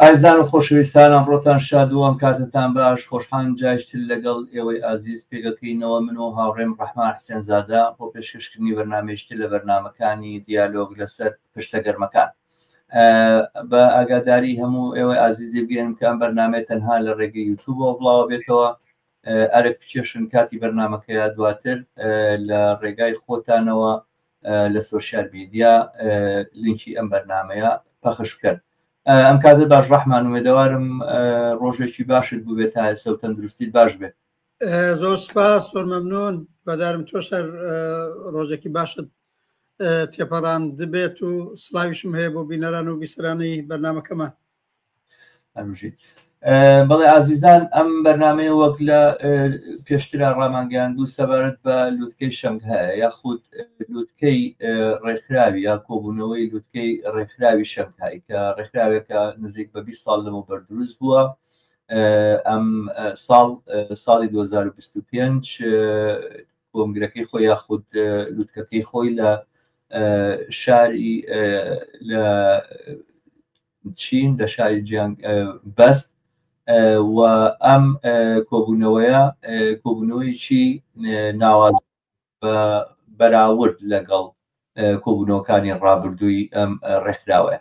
ئازیزان و خۆشەویستان ئەمڕۆتان شاد و ئەم کاتەتان باش خۆشحان جایشتر لەگەڵ ئێوەی ئازیز پێگەکەینەوە من و هاوڕێم ڕەحمان حسێنزادە بۆ پێشکەشکردنی بەرنمەیشتر لە بەرنمەکانی دیالۆگ لەسەر پرسە گەرمەکان بە ئاگاداری هەموو ئێوەی ئازیزی بگەێنم کە ئەم بەرنمەیە تەنها لە ڕێگەی یوتوبەوە بڵاوە بێتەوە ئەرک بچێشن کاتی بەرنمەکەیە دواتر لە ڕێگای خۆتانەوە لە سۆشیال میدیا لینکی ئەم بەرنمەیە پەخش بکەن ئەم کاتت باش ڕحمان وێدەوارم ڕۆژێکی باشت بووێت تا ئێستا و تەندروستیت باش بێت زۆر سپاس زۆر مەمنون بەدارم تۆ سەر ڕۆژێکی باشت تێپەڕان دبێت و سلاویشم هەیە بۆ بینەران و بیسرانی بەرنمەکەمان هەربژیت بەڵێ ئازیزان ئەم بەرنمەیە وەک لە پێشترا ڕامانگەیان دوو سەبارەت بە لوتکەی شەنگ هەیە یاخود لوتکەی ڕێکخراوی یا کۆبوونەوەی لوتکەی ڕێکخراوی شەنگهای کە ڕێکخراوێکە نزیک بە 20 ساڵ لەمە بەردروست بووە ئەم ساڵ ساڵی 2025 کۆنگرەکەی خۆی یاخود لوتکەکەی خۆی لە شاری لە چین لە شاری جیانگ بەست و ئەم کۆبوونەوەیە کۆبوونەوەیکی ناواز بە بەراورد لەگەڵ کۆبوونەوەکانی ڕابردووی ئەم ڕێکخراوەیە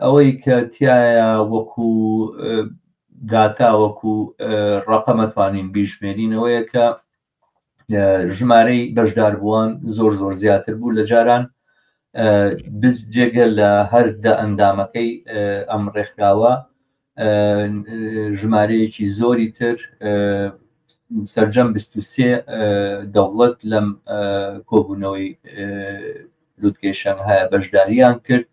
ئەوەی کە تیایە وەکو داتا وەکو ڕەقەمە توانین بیژمێرین ئەوەیە کە ژمارەی بەشدار بووان زۆر زۆر زیاتر بوو لە جاران جێگە لە هەر دە ئەندامەکەی ئەم ڕێکخراوە ژمارەیەکی زۆری تر سەرجەم سێ دەوڵەت لەم کۆبوونەوەی لوتکەی شەنگهایە بەشداریان کرد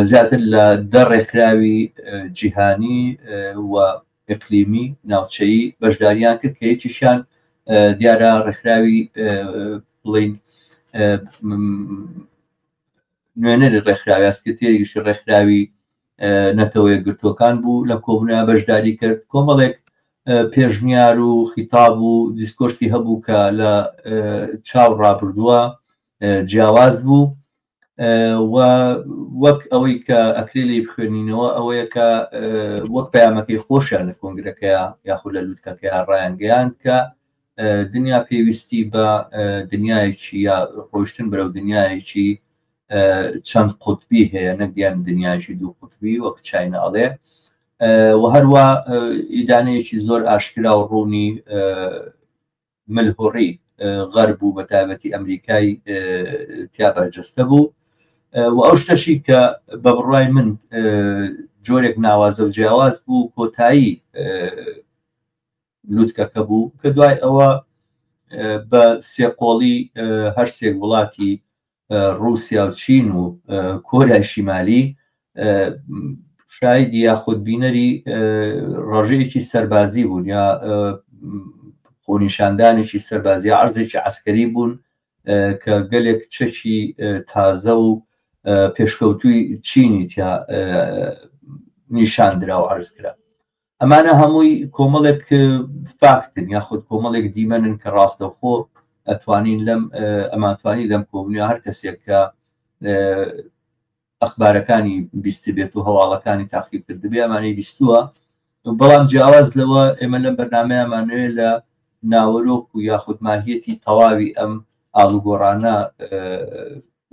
زیاتر لە دە ڕێکخراوی جیهانی و ئەقلیمی ناوچەیی بەشداریان کرد کە یەکیشان دیارە ڕێکخراوی بڵین نوێنەری ڕێکخراوی ئەسکرتێریشی ڕێکخراوی نەتەوە یەکگرتووەکان بوو لە کۆبنە بەشداری کرد کۆمەڵێک پێشنیار و خیتاب و دیسکۆرسی هەبوو کە لە چاو ڕابردووە جیاواز بوو وەک ئەوەی کە ئەکرێ لی بخوێنینەوە ئەوەیە کە وەک پامەکەی خۆشیان لە کۆنگرەکەیە یاخود لە لووتکەکەیان ڕایانگەیان کە دنیا پێویستی بە دنیایەکی یا ڕۆشتن بەرەو دنیایەکی چەند قوتبی هەیە نەگەن دنیاژی دوو قوتبی وەک چینە ئەڵێ و هەروە ئیدانەیەکی زۆر ئاشکرا و ڕوونی ملهوڕی غەر بوو بە تایبەتی ئەمریکای تیا بەرجەستە بوو و ئەو شتەشی کە بە بڕای من جۆرێک ناوازە و جیاواز بوو کۆتایی لوتکەکە بوو کە دوای ئەوە بە سێقۆڵی هەرسێک وڵاتی رووسیا و چین و کۆریای شیمالی شایدی یاخود بینەری ڕژەیەکی سەربازی بوون یا خۆنیشاندانێکی سەربازی عرضێکی عسکەری بوون کە گەلێک چەکی تازە و پێشکەوتوی چینی تیا نیشان درا و عرز کرا ئەمانە هەمووی کۆمەڵێک فاکتن یاخود کۆمەڵێک دیمەنن کە ڕاستەوخۆ ئەتوانین لەم ئەمانتوانی لەم کۆبنیە هەر کەسێک کە ئەخبارەکانی بیست بێت و هەواڵەکانی تاقیب کرد بێ ئەمانەی بیستووە بەڵام جیاواز لەوە ئێمە لەم بەرنمەیەمانوێ لە ناوەرۆک و یاخود ماهیەتی تەواوی ئەم ئاڵوگۆڕانە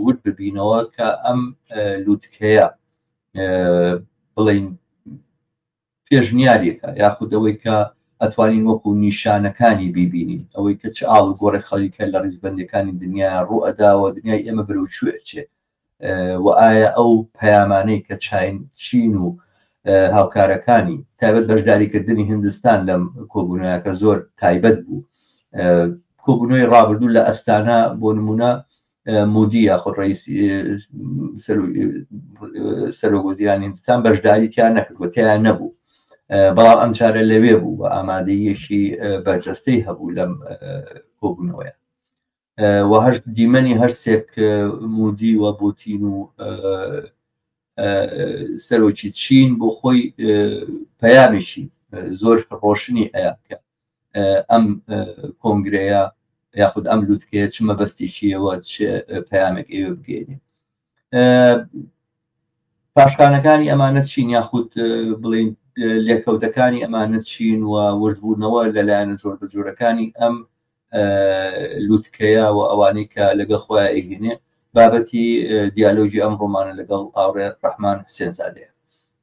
ورد ببینەوە کە ئەم لووتکەیە بڵین پێشنیارێکە یاخود ئەوەی کە ئەتوانین وەکو نیشانەکانی بیبینین، ئەوەی کە چ ئاڵ و گۆڕێک خەڵیکە لە ڕیزبەندیەکانی دنیایان ڕوو ئەدا و دنیای ئێمە بەرەو کوێ ئەچێ و ئایا ئەو پەیامانەی کە چاین چین و هاوکارەکانی تایبەت بەشداری کردنی هندستان لەم کۆبونەوە کە زۆر تایبەت بوو کۆبونەوەی ڕابردوو لە ئەستانە بۆ نمونە مودی یاخود ڕئیس سەرۆک وەزیرانی هندستان بەشداری تیا نەکرد و تیان نەبوو بەڵام ئەم چارە لەوێ بوو بە ئامادەیەکی بەرجەستەی هەبوو لەم کۆبوونەوەیە وهشت دیمەنی هەر سێک مودی و بوتین و سەرۆکی چین بۆ خۆی پەیامێکی زۆر ڕۆشنی ئەیان کرد ئەم کۆنگرەیە یاخود ئەم لوتکەیە چ مەبەستێکیەوە پەیامێک ئێوە بگەێنێ پاشخانەکانی ئەمانە چین یاخود بڵین لێکەوتەکانی ئەمانە چین و وردبوونەوە لەلایەن جۆر بە جۆرەکانی ئەم لوتکەیە و ئەوانەی کە لەگە خۆیان ئەهێنێ بابەتی دیالۆگی ئەم ڕۆمانە لەگەڵ ئاڕێ ڕحمان حسێنزادەیە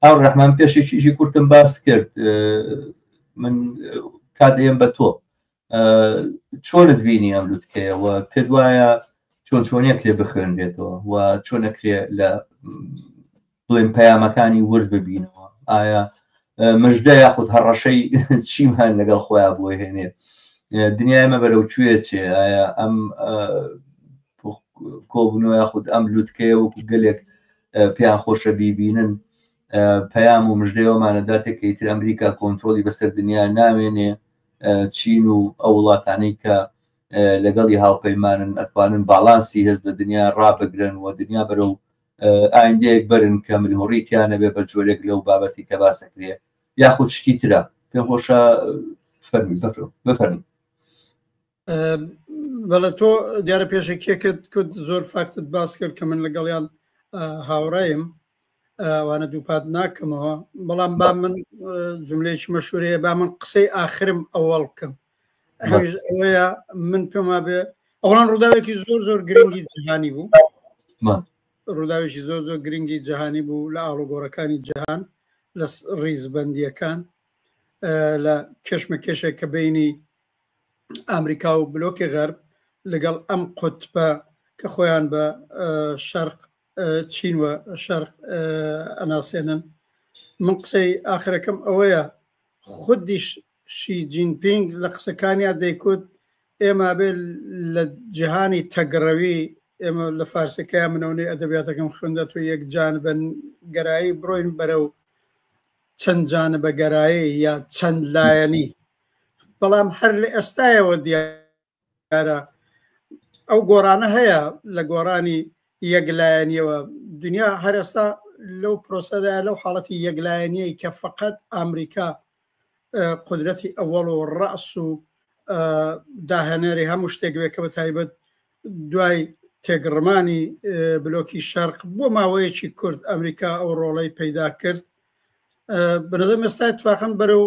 هاو ڕحمان پێشێکیشی کورتم باس کرد من کاتێم بە تۆ چۆنت بینی ئەم لوتکەیەوە پێ وایە چۆن چۆنیە کرێ بخوێنرێتەوە و چۆنەکرێ لە بڵێن پەیامەکانی ورد ببینەوە ئایا مژدە یاخود هەڕەشەی چیمان لەگەڵ خۆیان بۆ هێنێ دنیای مە بەرەو کوێ چێ ئایا ئەم کۆبنەوە یاخود ئەم لوتکەیە وەکو گەلێک پێیان خۆشە بیبینن پەیام و مژدەوەمانە داتێک کە ئیتر ئەمریکا کۆنتترۆلی بەسەر دنیا ناوێنێ چین و ئەو وڵاتانی کە لەگەڵی هاوپەیمانن ئەتوانن باڵانسی هێز لە دنیا ڕابگرن و دنیا بەرەو ئایندەیەک بەرن کە ملهوڕیتیانە بێ بە جۆرێک لەو بابەتی کە باسەکرێ یاخود شتی ترە پێم خۆشە فەرمی بەفرم بفەرمی بەڵە تۆ دیارە پێشەکیەکەت کرد زۆر فاکتت باس کرد کە من لەگەڵیان هاوڕایم وانە دووپات ناکەمەوە بەڵام با من جملێکی مەشورەیە با من قسەی ئاخرم ئەوەڵ بکەم ئەوەیە من پێما بێ ئەوان ڕووداوێکی زۆر زۆر گرنگی جیهانی بوو ڕووداوێکی زۆر زۆر گرنگی جیهانی بوو لە ئاڵوگۆڕەکانی جیهان لە ڕیزبندیەکان لە کێشمە کێشێک کە بینی ئامریکا و بلۆکی غەرب لەگەڵ ئەم قوتبە کە خۆیان بە شەرق چین و شەرق ئەناسێنن من قسەی ئاخرەکەم ئەوەیە خودیش شی جینپینگ لە قسەکانیا دەیکوت ئێمە بێ لە جیهانی تەگڕەوی ئێمە لە فارسەکەی منەونەی ئەدەبیاتەکەم خوندە تو یەک جان بن گەرایی بڕۆین بەرە و چەند جانە بەگەرایی یا چەند لایەنی بەڵام هەر لە ئێستایەوە دیارە ئەو گۆڕانە هەیە لە گۆڕانی یەکلایەنیەوە دنیا هەرێستا لەو پرۆسەدا لەو حاڵەتی یەکلایەنیەی کە فقط ئەمریکا قدرەتی ئەوەڵ و ڕاس و داهێنەری هەموو شتێک بێ کە بە تایبەت دوای تێگڕمانی بلۆکی شەرق بۆ ماوەیەکی کورد ئەمریکا ئەو ڕۆڵەی پەیدا کرد بەنظر مەستا تفاقم بەرە و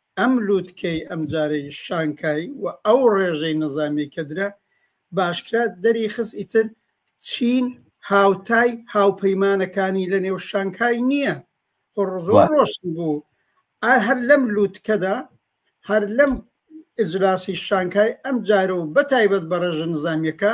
ئەم لوتکەی ئەمجارەی شانکای و ئەو ڕێژەی نەزامی کە درا باشکرا دەری خست ئیتر چین هاوتای هاوپەیمانەکانی لە نێو شانکای نییە خۆ ڕزۆر ڕۆشن بوو هەر لەم لوتکەدا هەر لەم ئجلاسی شانکای ئەم جارە و بەتایبەت بە ڕێژە نزامیەکە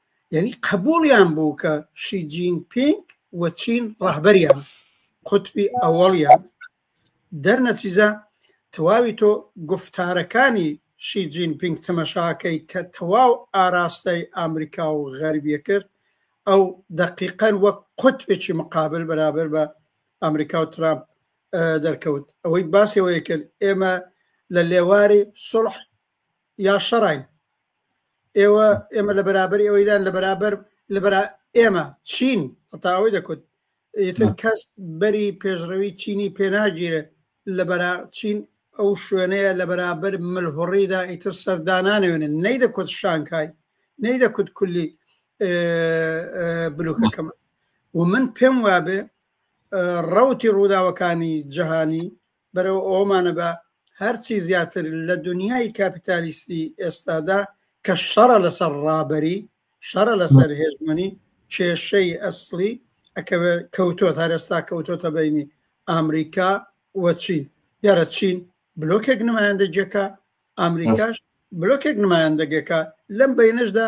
یەنی قەبوڵیان بوو کە شی جین پینگ و چین ڕەهبەریان قوتبی ئەوەڵیان دەر نەچیزە تەواوی تۆ گفتارەکانی شی جین پینگ تەمەشاکەی کە تەواو ئاراستەی ئامریکا و غەربیە کرد ئەو دەقیقەن وەک قوتبێکی مقابل بەرابەر بە ئامریکا و ترامپ دەرکەوت ئەوەی باسەوەی کرد ئێمە لە لێواری سڵح یا شەڕین ئێوە ئێمە لە بەرابەر ئێوەیدان لە بەرابەر لە بەرا ئێمە چین هەتا ئەوەی دەکوت ئیتر کەس بەری پێشڕەوی چینی پێناگیرێت لە بەرا چین ئەو شوێنەیە لە بەرابەر ملهوڕیدا ئیتر سەردانانەوێنن نەی دەکوت شانکای نەی دەکوت کولی بلوکەکەمە و من پێم وابێ ڕوتی ڕووداوەکانی جیهانی بەرەو ئەوەمانە بە هەرچی زیاتر لە دونیای کاپیتالیستی ئێستادا کە شەڕە لەسەر ڕابەری شەڕە لەسەر هێژمەنی کێشەی ئەسلی ئەکەوێ کەوتۆت هەرێستا کەوتۆتە بینی ئامریکا وەچین دیارە چین بلۆکێک نمایندەگیەکە ئامریکاش بلۆکێک نمایندەگەکە لەم بینشدا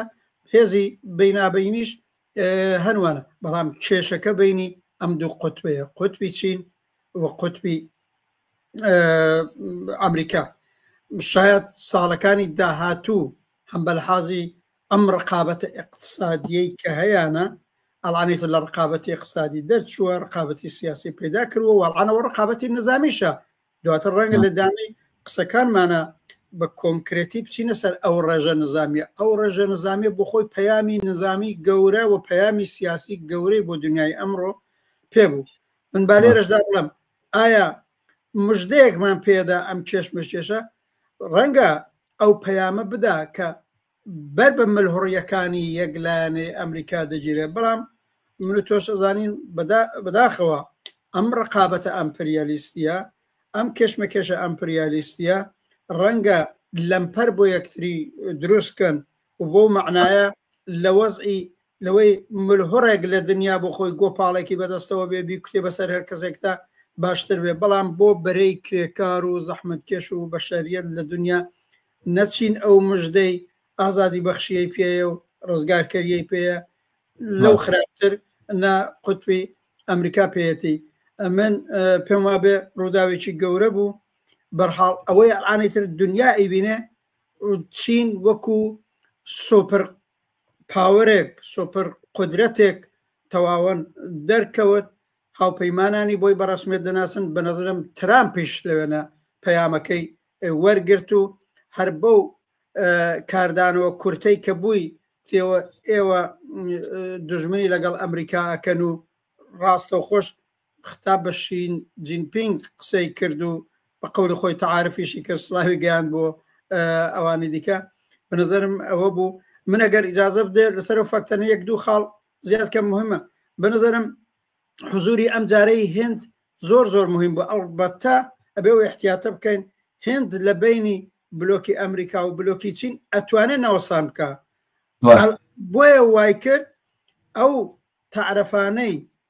هێزی بینابینیش هەنوانە بەڵام کێشەکە بینی ئەم دوو قوتبەیە قوتبی چین و قوتبی ئەمریکا شاید ساڵەکانی داهاتوو هەم بەلحازی ئەم ڕقابەتە اقتصادیەی کە هەیەە ئەڵانێت لە ڕقابەتی اقتصادی دەرچووە ڕقابەتی سیاسی پیدا کردوە وەڵانەوە ڕقابەتی نزامیشە دواتر ڕەنگە لە دامی قسەکانمانە بە کۆنکرێتی بچینە سەر ئەو ڕێژە نزانامیە ئەو ڕێژە نزانامیە بۆ خۆی پەیامی نزامی گەورە و پەیامی سیاسی گەورەی بۆ دنیای ئەمڕۆ پێبوو من با لێرەشدا بڵم ئایا مژدەیەکمان پێدا ئەم کێشمەکێشە ڕەنگە ئەو پەیامە بدا کە بەر بە ملهڕیەکانی یەکلایەنەی ئەمریکا دەگیرێت بەڵام من تۆش ئەزانین بەداخەوە ئەم ڕقابەتە ئەمپریالیستیە ئەم کێشمەکێشە ئەمپریالیستیە ڕەنگە لەمپەر بۆ یەکتری دروستکەن و بەو مەعنایە لە وەزعی لەوەی ملهوڕێک لە دنیا بۆ خۆی گۆپاڵێکی بەدەستەوە بێ بیکوتێ بەسەر هەر کەسێکدا باشتر بێ بەڵام بۆ بەرەی کرێکار و زەحمەتکێش و بەشەریەت لە دنیا نەچین ئەو مژدەی ئازادی بەخشیەی پێیە و ڕزگارکەریەی پێیە لەو خراپتر نە قوتبی ئەمریکا پێەتی ئەمن پێم وابێ ڕووداوێکی گەورە بوو بەرحاڵ ئەوەی ئەعانەی تر دنیا ئەیبینێ چین وەکو سۆپەر پاوەرێک سۆپەر قدرەتێک تەواوەن دەرکەوت هاوپەیمانانی بۆی بەڕسمێت دەناسن بە نەزرم ترامپیش لەوێنە پەیامەکەی وەرگرت و هەر بەو کاردانەوە کورتەی کە بووی تێوە ئێوە دژمنی لەگەڵ ئەمریکا ئەکەن و ڕاستە خۆش ختا بە شین جین پینگ قسەی کرد و بە قەولی خۆی تەعارفیشی کرد سڵاوی گەیاند بۆ ئەوانی دیکە بە نظرم ئەوە بوو من ئەگەر ئیجازە بدێ لەسەر و فەکتەنە یەک دوو خاڵ زیاد کەم مهمە بە نظرم حزوری ئەم جارەی هند زۆر زۆر مهم بوو ئەڵبەتە ئەبێ و احتیاتە بکەین هند لە بینی بلۆکی ئەمریکا و بلۆکی چین ئەتوانێت ناوەسان بکە بۆیە وای کرد ئەو تعرفانەی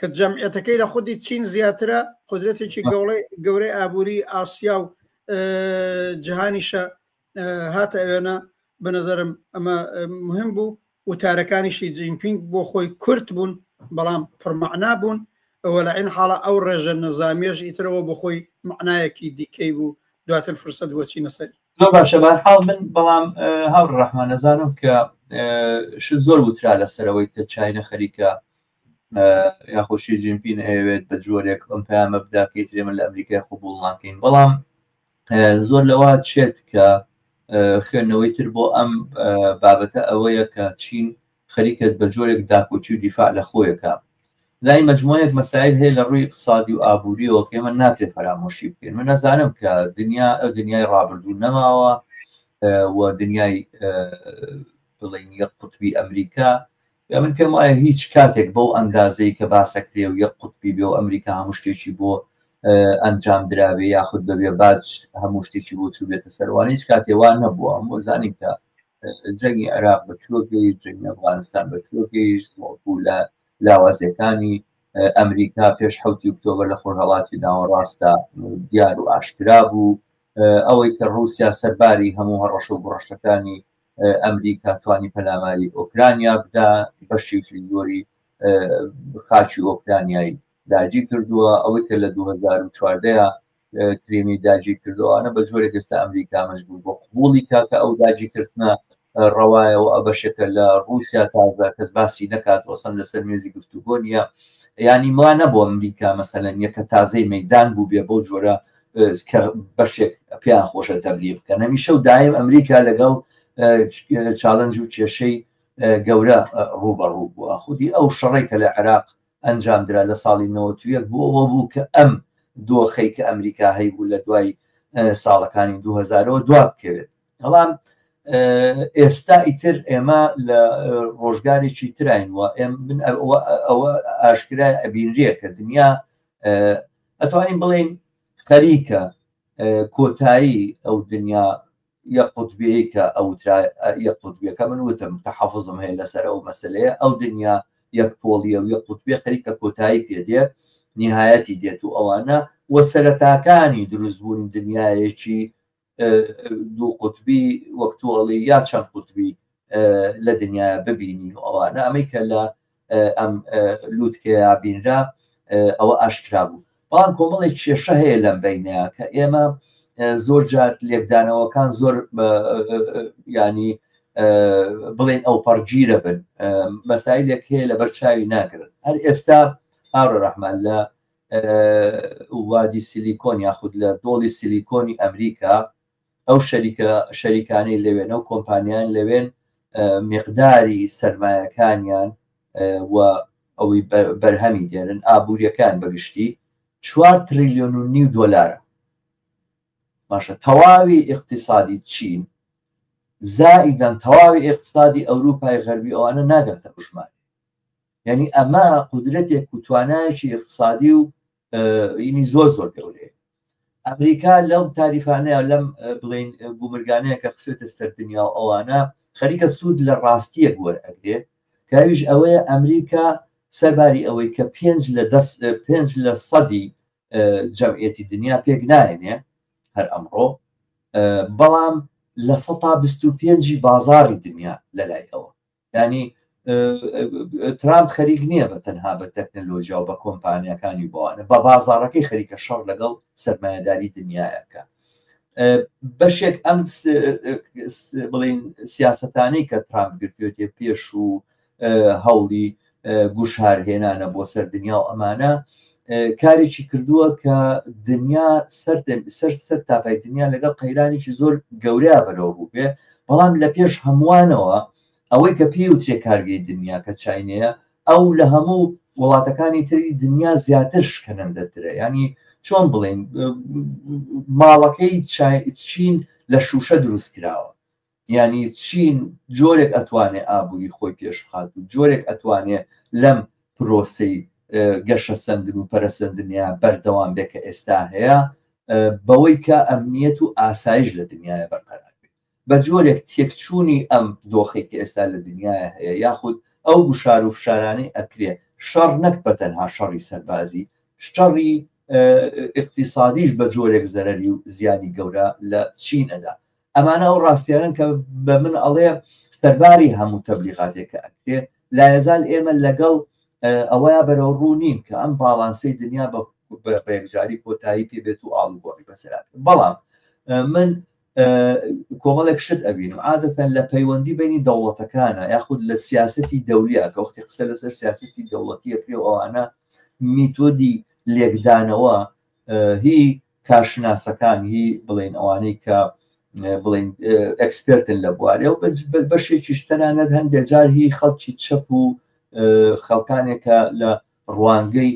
کە جەمعیەتەکەی لە خودی چین زیاترە قدرەتێکی گەوڵێ گەورەی ئابووری ئاسیا و جیهانیشە هاتە ئەوێنە بە نظرم ئەمە مهم بوو وتارەکانیشی جینپینگ بۆ خۆی کورت بوون بەڵام پڕمەعنا بوون ئەوە لە عین حاڵە ئەو ڕێژە نەزانامێژ ئیترەوە بۆ خۆی معنایەکی دیکەی بوو دواتر فرسەت بۆچی نەسەری زۆر باشە بارحاڵ من بەڵام هاوڕ ڕەحمانەزانم کە ش زۆر وترا لەسەرەوەی کە چینە خەریکە یاخۆ شی جین پین ئەیەوێت بە جۆرێک ئەم پامە بدا کەی ترێ من لە ئەمریکای قوبول ناکەین بەڵام زۆر لەوە چێت کە خوێندنەوەی تر بۆ ئەم بابەتە ئەوەیە کە چین خەریکت بە جۆرێک داکۆچی و دیفاع لە خۆیەکە لای مجموعەیەک مەسایل هەیە لە ڕووی اقتصادی و ئابووریەوە کە من ناکرێت فەرامۆشی بکەین من نەزانم کە دنیا ئەو دنیای ڕابردوو نەماوە و دنیای بڵین یەک قوتبی ئەمریکا من پێم وایە هیچ کاتێک بەو ئەندازەی کە باسەکرێ و یەک قوتبی بێ و ئەمریکا هەموو شتێکی بۆ ئەنجام دراوێ یاخود بەبێ باج هەموو شتێکی بۆ چوو بێتە سەروانی هیچ کاتێوان نەبووە هەموو زانین کە جەنگی عێراق بەچوە گەیشت جەنگی ئەفغانستان بەچوە گەیشت وەڵکو لە لاوازەکانی ئەمریکا پێش حوتی ئۆکتۆبر لە خۆرهڵاتی ناوەڕاستە دیار و ئاشکرا بوو ئەوەی کە ڕوسیا سەرباری هەموو هەڕەشە و گڕەشەکانی ئەمریکا توانی پەلاماری ئۆکرانیا بدا بەشی زۆری خاچی ئۆکرانیایی داجی کردووە ئەوەی کە لە 2014 کریمی داجی کردوانە بە جۆرە گەستە ئەمریکا مەجبور بۆ قوڵی کاکە ئەو داجی کردە ڕەوایەوە ئەبەشەکە لە رووسیا تازە کەس باسی نکات وەسم لەسەر مێزی گفتوگۆ نیە ینی ما نەبوو ئەمریکا مەسەلەن یەکە تازەی مەدان بوو بێ بۆ جۆرە کە بەشێک پێیان خۆشە تەبلی بکەن هەمیشە و دایم ئەمریکا لەگەڵ چاالنج و کێشەی گەورە ڕوبەڕوو بووە خودی ئەو شەڕی کە لە عێراق ئەنجام درا لە ساڵی 90 بۆەوە بوو کە ئەم دۆخەی کە ئەمریکا هەیبوو لە دوای ساڵەکانی 2000ەوە دوا بکەوێت بەڵام ئێستا ئیتر ئێمە لە ڕۆژگارێکی تراین وە ئێم من ئەوە ئاشکرای ئەبینرە کە دنیا ئەتوانین بڵێین خەریکە کۆتایی ئەو دنیا یە قوتبیەی کە ئەوترا یە قوتبیەکە من وتم تەحەفزم هەیە لەسەر ئەو مەسلەیە ئەو دنیا یەک پۆڵیە و یە قوتبێ خەریکە کۆتایی پێدێ نهایەتی دێت و ئەوانە وە سەرەتاکانی دروستبوونی دنیایەکی دوو قوتبی وەک تۆ ئەڵێی یا چەند قوتبی لە دنیا ببینین و ئەوانە ئەمەی کە لە ئەم لووتکەیا بینرا ئەوە ئاشکرا بوو بەڵام کۆمەڵی کێشە هەیە لەم بینەیە کە ئێمە زۆر جار لێکدانەوەکان زۆر ینی بڵێن ئەو پەڕگیرە بن مەسایلێک هەیە لە بەرچاوی ناگرن هەر ئێستا هاڕە ڕەحمان لە وادی سیلیکۆن یاخود لە دۆڵی سیلیکۆنی ئەمریکا ئەو شەریکە شەریکانەی لەوێن ئەو کۆمپانیان لەوێن مقداری سرمایەکانیان و ئەوەی بەرهەمی دێنن ئابوووریەکان بەگشتی 4 تریلیۆن و نیو دۆلارە باشە تەواوی اقتصادی چین زائیدەن تەواوی اقتصادی ئەوروپای غەربی ئەوانە ناگاتە بژمان یعنی ئەمە قدرەتێک و توانایکی اقتصادی و ینی زۆر زۆر گەورەیە ئەمریکا لەم تاریفانەیە لەم بڵین گومرگانەیە کە خسێتە سەر دنیا و ئەوانە خەریکە سوود لە ڕاستیە گوەر ئەگرێ کاویش ئەوەیە ئەمریکا سەرباری ئەوەی کە پێنج لە دەست پێنج لە سەدی جەمعەتی دنیا پێک نایێنێ هەر ئەمڕۆ بەڵام لە سە پێنجی بازاری دنیا لەلای ئەوە یانی ترامپ خەریک نییە بە تەنها بە تەکنەلۆجیا و بە کۆمپانیەکانی بۆوانە بە بازارەکەی خەریکە شەڕ لەگەڵ سەرمایهداری دنیایەکە بەشێک ئەم بڵین سیاستانەی کە ترامپ گرتێتێ پێش و هەوڵی گوشار هێنانە بۆ سەر دنیا و ئەمانە کارێکی کردووە کە دنیا سەر سەر سەر تاپای دنیا لەگەڵ قەیرانێکی زۆر گەورەیا بەرەوە بوو بێ بەڵام لە پێش هەمووانەوە ئەوەی کە پێی وترێ کارگەی دنیا کە چینەیە ئەو لە هەموو وڵاتەکانی تری دنیا زیاتر شکەنەندەترە ینی چۆن بڵین ماڵەکەی چین لە شوشە دروست کراوە یانی چی جۆرێک ئەتوانێ ئابووری خۆی پێش بخات و جۆرێک ئەتوانێ لەم پرۆسەی گەشەسەندن و پەرەسەندنە بەردەوام بێ کە ئێستا هەیە بەوەی کە ئەمنیەت و ئاسایش لە دنیاە بەرقەرار بێ بە جۆرێک تێکچوونی ئەم دۆخی کە ئێستا لە دنیاە هەیە یاخود ئەو گوشار و فشارانی ئەکرێ شەڕ نەک بە تەنها شەڕی سەربازی شەڕی اقتصادیش بە جۆرێک زەرری و زیانی گەورە لە چین ئەدا ئەمانە ئەو ڕاستیانەن کە بە من ئەڵێ سەرباری هەموو تەبلیغاتێک کە ئەکرێ لایەزال ئێمە لەگەڵ ئەوەیە بەرەو ڕوو نین کە ئەم باڵانسەی دنیا بە بەێکجاری کۆتایی پێ بێت و ئاڵوگۆڕی بەسرات بەڵام من کۆمەڵێک شت ئەبین و عادەتەن لە پەیوەندی بینی دەوڵەتەکانە یاخود لە سیاستی دەولیا کە وەختی قسە لەسەر سیاستی دەوڵەتیە پێ ئەوانە میتۆدی لێکدانەوە هی کارشناسەکان هی بڵێن ئەوانەی کە بڵین ئەکسپرتن لە بوارێ و بەشێکیش تەنانەت هەندێ جار هی خەڵکی چەپ و خەڵکانێکە لە ڕوانگەی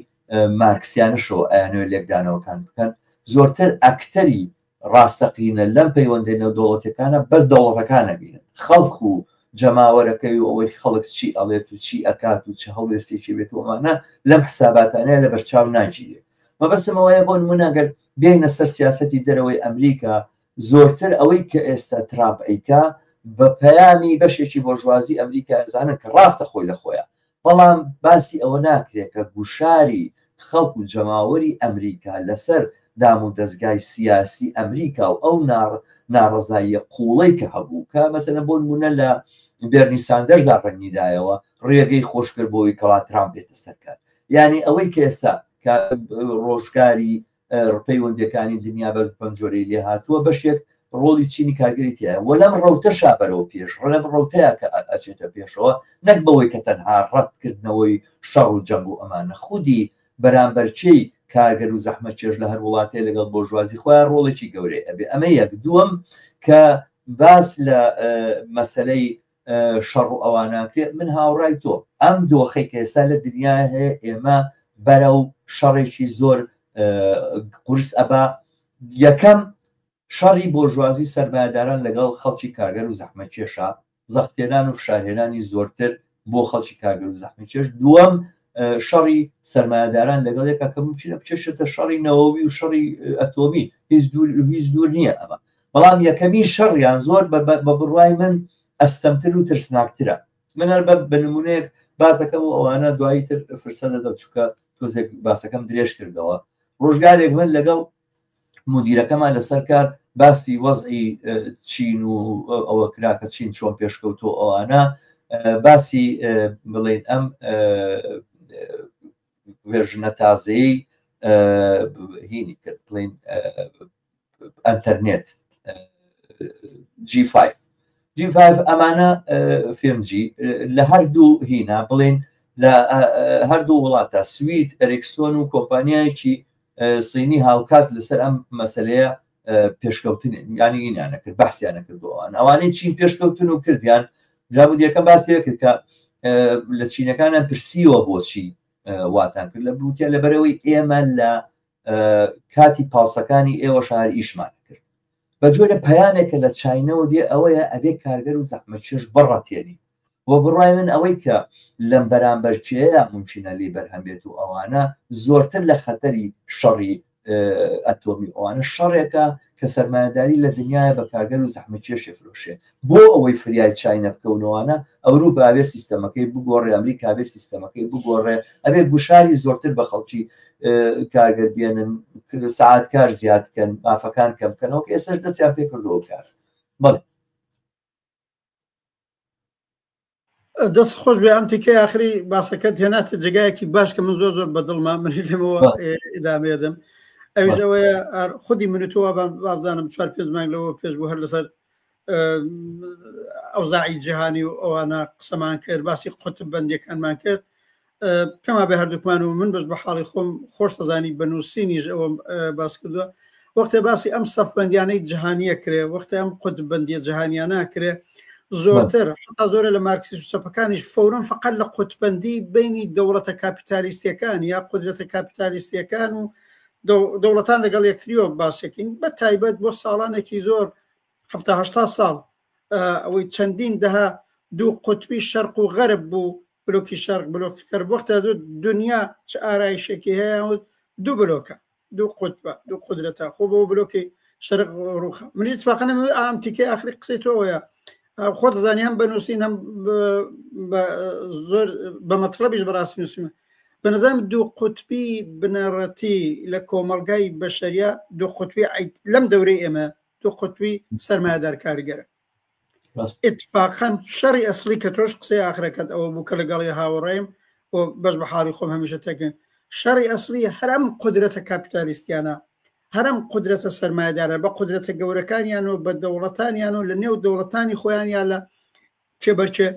مارکسیانەشەوە ئەیانۆ لێکدانەوەکان بکەن زۆرتر ئەکتەری ڕاستەقینە لەم پەیوەندی نەودەوڵەتەکانە بەس دەوڵەتەکانە بینن خەڵک و جەماوەرەکەی و ئەوەی خەڵک چی ئەڵێت و چی ئەکات و چه هەڵوێستێکی بێت ومانە لەم حساباتانەیە لە بەرچاو ناگیرێت مەبەستم ئەوەیە بۆ نموونە ئەگەر بێینە سەر سیاسەتی دەرەوەی ئەمریکا زۆرتر ئەوەی کە ئێستا ترامپ ئەیکا بە پەیامی بەشێکی بۆرژوازی ئەمریکا ئەزانن کە ڕاستە خۆی لە خۆیە بەڵام باسی ئەوە ناکرێت کە گوشاری خەڵک و جەماوەری ئەمریکا لەسەر دام و دەزگای سیاسی ئەمریکا و ئەو ناڕەزاییە قوڵەی کە هەبوو کە مەسەنە بۆ نمونە لە بێرنی ساندەردا ڕەنگیدایەوە ڕێگەی خۆشکرد بۆی کەوا ترامپ بێتە سەرکار یانی ئەوەی کە ئێستا کە ڕۆژگاری پەیوەندەکانی دنیا بە پەنجۆرەی لێ هاتووە بەشێک ڕۆڵی چینی کارگەری تایە وە لەم ڕوتە شابەرەوە پێش ڕەب ڕوتەیە کە ئەچێتە پێشەوە نەک بەوەی کە تەنها ڕەتکردنەوەی شەڕ و جەنگ و ئەمانە خودی بەرامبەرچی کارگەر و زەحمە چێش لە هەر وڵاتێ لەگەڵ بۆژوازی خۆیان ڕۆڵێکی گەورەی ئەبێ ئەمە یەک دووەم کە باس لە مەسلەی شەڕ و ئەوا ناکرێت من هاوڕای تۆ ئەم دۆخەی کە ئێستا لە دنیا هەیە ئێمە بەرە و شەڕێکی زۆر قورس ئەبا یەکەم شەڕی بۆژوازی سەرمایهداران لەگەڵ خەڵکی کارگەر و زەحمە کێشە زەختێنان و فشارهێنانی زۆرتر بۆ خەڵکی کارگەر و زەحمی کێش دووەم شەڕی سەرمایهداران لەگەڵ یەکە کە ممکنە بچێشێتە شەڕی نەوەوی و شەڕی ئەتۆمی هیچ دوور هیچ دوور نییە ئەمە بەڵام یەکەمین شەڕیان زۆر بە بڕوای من ئەستەمتر و ترسناکترە من هەر بە نمونەیەک باس دەکەم و ئەوانە دوایی تر فرسە دەدەم چووکە تۆزێک باسەکەم درێژ کردەوە ڕۆژگارێک من لەگەڵ مدیرەکەمان لەسەر کار باسی وەزعی چین و ئەوە کراکە چین چۆن پێشکەوتۆ ئەوانە باسی بڵێن ئەم وێژنە تازەی هینی کرد بڵین ئەتەرنێت G5 G5 ئەمانە فێمجی لە هەردوو هینا بڵێن لە هەردوو وڵاتە سوید ئەرێکسۆن و کۆمپانیایەکی سینی هاوکات لەسەر ئەم مەسلەیە پێشکەوتن ینی ئینیانە کرد بەحسیانە کردووان ئەوانەی چین پێشکەوتن و کردیان جامودیەکەم باس پێ کرد کە لە چینەکانە پرسیوە بۆچی واتان کرد لە بوتە لەبەرەوەی ئێمە لە کاتی پاوسەکانی ئێوە شار ئیشمان کرد بە جۆرە پەیامێکە لە چینەوە دێ ئەوەیە ئەبێ کارگەر و زەحمە چێش بڕەتێنی و بڕای من ئەوەی کە لەم بەرامبەر چێە ممچینە لی بەرهەم بێت و ئەوانە زۆرتر لە خەتەری شەڕی ئەتۆمی ئەوانە شەڕێکە کە سەرمایهداری لە دنیاە بە کارگەر و زەحمە چێشێ فرۆشێ بۆ ئەوەی فریای چای نەبکەونەوانە ئەوروپا ئەبێ سیستەمەکەی بگۆڕێ ئەمریکا ئەبێ سیستەمەکەی بگۆڕێ ئەبێ گوشاری زۆرتر بە خەڵکی کارگەر بێنن سعات کار زیاد بکەن مافەکان کەم بکەنەوە کە ئێسش دەستیان پێ کردەوە کار بەڵێ دەست خۆش بێ ئەم تیکە یاخری باسەکەت هێناتە جگایەکی باش کە من زۆر زۆر بەدڵما من لەمەوە ئدامێدم ئەوژەوەیە خودی منتووە بابزانم چوار پێ مانگ لەوە پێش بوو هەر لەسەر ئەوزاعی جیهانی و ئەوانە قسەمان کرد باسی قوتب بەندەکانمان کرد کەما بە هەردووکمان و من بەش بە حاڵی خۆم خۆش دەزانی بە نووسینیش ئەوم باس کردووە وەختێ باسی ئەم سەفبندیانەی جیهانیە کرێ وەختە ئەم قوتبندیە جیهانیانە کرێ زۆرتر حتا زۆرە لە مارکسی و چەپەکانیش فورن فقط لە قوتبندی بینی دەوڵەتە کاپیتالیستەکان یا قدرەتە کاپیتالیستەکان و دەوڵەتان لەگەڵ یەکتریۆ باسەکەین بە تایبەت بۆ ساڵانێکی زۆر هەه ساڵ ئەوەی چەندین دەها دوو قوتبی شەرق و غەرب بوو بلۆکی شەرق بلۆکی غەرب وەختە دوو دنیا چ ئارایشێکی هەیە وت دوو بلۆکە دوو قوتبە دوو قدرەتە خۆ بۆ بلۆکی شەرق ڕوخە منی تفاقەنە ئام تیکەی ئاخری قسەی تۆەیە خۆت زانانی هەم بەنووسین هەم زۆر بە مەطلبیش بەڕاستی نووسمە بە نظام دوو قوتبی بنەڕەتی لە کۆمەلگای بەشەریا دوو قوتبی لەم دەورەی ئێمە دوو قوتبی سەرمایدار کارگەرە اتفاقەن شەڕی ئەسلی کە تۆش قسەی ئاخرەکەت ئەوە بوو کە لەگەڵی هاوڕێم و بەس بە حاڵی خۆم هەمیشە تێکن شەڕی ئەسلی هەرم قدرەتە کاپیتالیستیانە هەرم قدرەتە سەرمایدارە بە قدرەتە گەورەکانیان و بە دەوڵەتانیان و لە نێو دەوڵەتانی خۆیان یا لە چێبەرچێ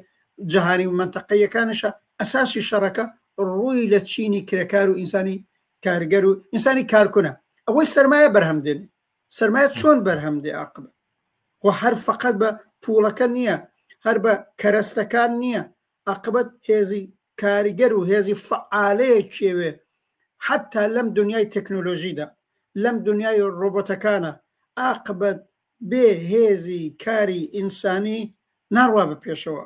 جیهانی و منتەقەیەکانشە ئەساسی شەڕەکە ڕووی لە چینی کرێکار و ئینسانی کارگەر و ئینسانی کارکونە ئەوەی سەرمایە بەرهەم دێنێ سەرمایە چۆن بەرهەم دێ عقب خۆ هەر فقط بە پوڵەکە نییە هەر بە کەرەستەکان نییە عقبەت هێزی کاریگەر و هێزی فعالەیە کێوێ حتا لەم دنیای تەکنۆلۆژیدا لەم دنیای ڕۆبۆتەکانە ئاقبەت بێ هێزی کاری ئینسانی ناڕوا بە پێشەوە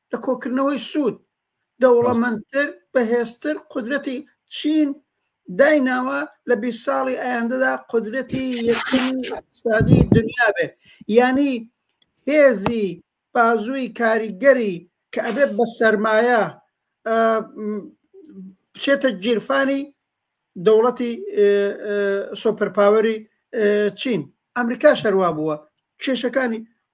لە کۆکردنەوەی سوود، دەوڵەمەندتر، بەهێزتر قودرەتی چین دایناوە لە بیست ساڵی ئایندەدا قودرەتی یەکەمی ئیقتصادی دنیا بێ. یانی هێزی بازووی کاریگەری کە ئەبێ بە سەرمایە ئە، بچێتە گیرفانی دەوڵەتی ئە، ئە، سۆپەرپاوەری ئە، چین. ئەمریکاش هەروا بووە. کێشەکانی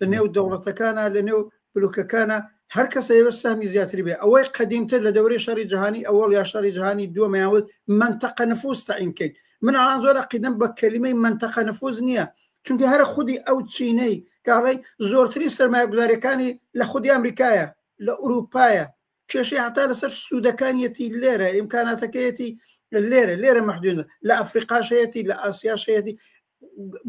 لە نێو دەوڵەتەکانە لە نێو بلوکەکانە هەر کەسە ئێوە سامی زیاتری بێ ئەوەی قەدیمتر لە دەوری شەڕی جیهانی ئەوەڵ یا شەڕی جیهانی دووەمەیاوت منتەقە نفوس تەعینکەین من ئەڵان زۆر قیدم بە کەلیمەی منتەقە نفوس نییە چونکە هەرە خودی ئەو چینەی کاڵی زۆرتری سرمایە گوزارەکانی لە خودی ئەمریکایە لە ئوروپایە کێشەی هەتا لەسەر سوودەکانیەتی لێرە ئیمکاناتەکەیەتی لێرە لێرە مەحدونە لە ئەفریقاشەتی لە ئاسیاشەتی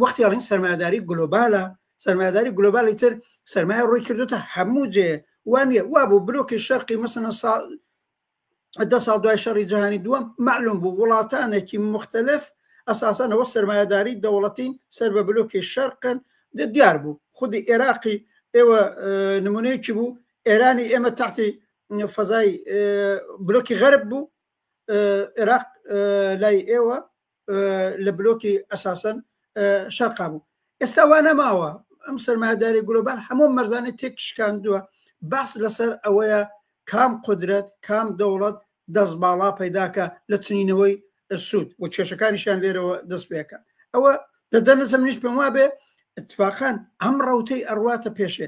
وەختی ئەڵین سەرمایداری گلۆبالە سەرمایداری گلۆبالی تر سەرمایە ڕووی کردوتە هەموو جێ وانە وا بوو برۆکی شەرقی مەسەنە سا دە ساڵ دوای شەڕی جیهانی دووەم معلوم بوو وڵاتانێکی مختلف ئەساسانەوە سەرمایهداری دەوڵەتین سەر بە بلوکی شەرقن دیار بوو خودی عێراقی ئێوە نمونەیەکی بوو ئێرانی ئێمە تاقی فەزای بلوکی غەرب بوو عێراق لای ئێوە لە بلۆکی ئەساسەن شەرقا بوو ئێستا وا نەماوە ئەم سەرمایداری گلۆبان هەموو مەرزانێت تێک شکاندووە باس لەسەر ئەوەیە کام قدرەت کام دەوڵەت دەست باڵا پەیداکە لە چنینەوەی سوود و کێشەکانیشیان لێرەوە دەست پێەکە ئەوە دەدەنەسم نیش پێم وابێ اتفاقان ئەم ڕوتەی ئەڕواتە پێشێ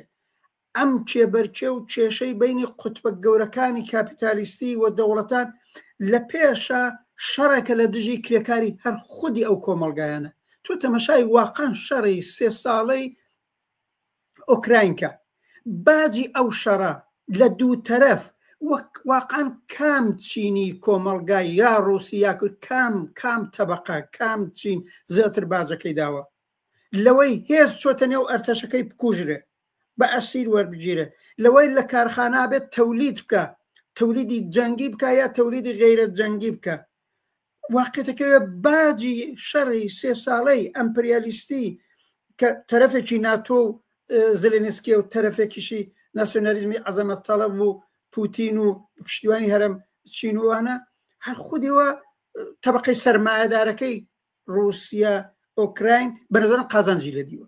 ئەم کێبەرکێ و کێشەی بەینی قوتبە گەورەکانی کاپیتالیستی و دەوڵەتان لە پێشە شەڕێکە لە دژی کرێکاری هەر خودی ئەو کۆمەڵگایانە. تۆ تەمەشای واقان شەڕی سێ ساڵەی ئۆکراین کە. باجی ئەو شەڕە لە دوو تەرەف وەک واقان کام چینی کۆمەڵگا یا ڕووسی یا کورد کام کام تەبقە کام چین زیاتر باجەکەی داوە لەوەی هێز چۆتە نێو ئەرتەشەکەی بکوژرێ بە ئەسیر وەربگیرێ لەوەی لە کارخانە بێت تەولید بکە تەولیدی جەنگی بکە یا تەولیدی غیرە جەنگی بکە واقعەکەوێ باجی شەڕی سێ ساڵەی ئەمپریالیستی کە تەرەفێکی ناتۆ و زلێنسکی و تەرەفێکیشی ناسیۆنالیزمی عەزەمە تەڵەب و پوتین و پشتیوانی هەرم چینوانە هەر خودیەوە طبقەی سەرمایەدارەکەی رووسیا ئۆکراین بەنظرم قازانجی لە دیوە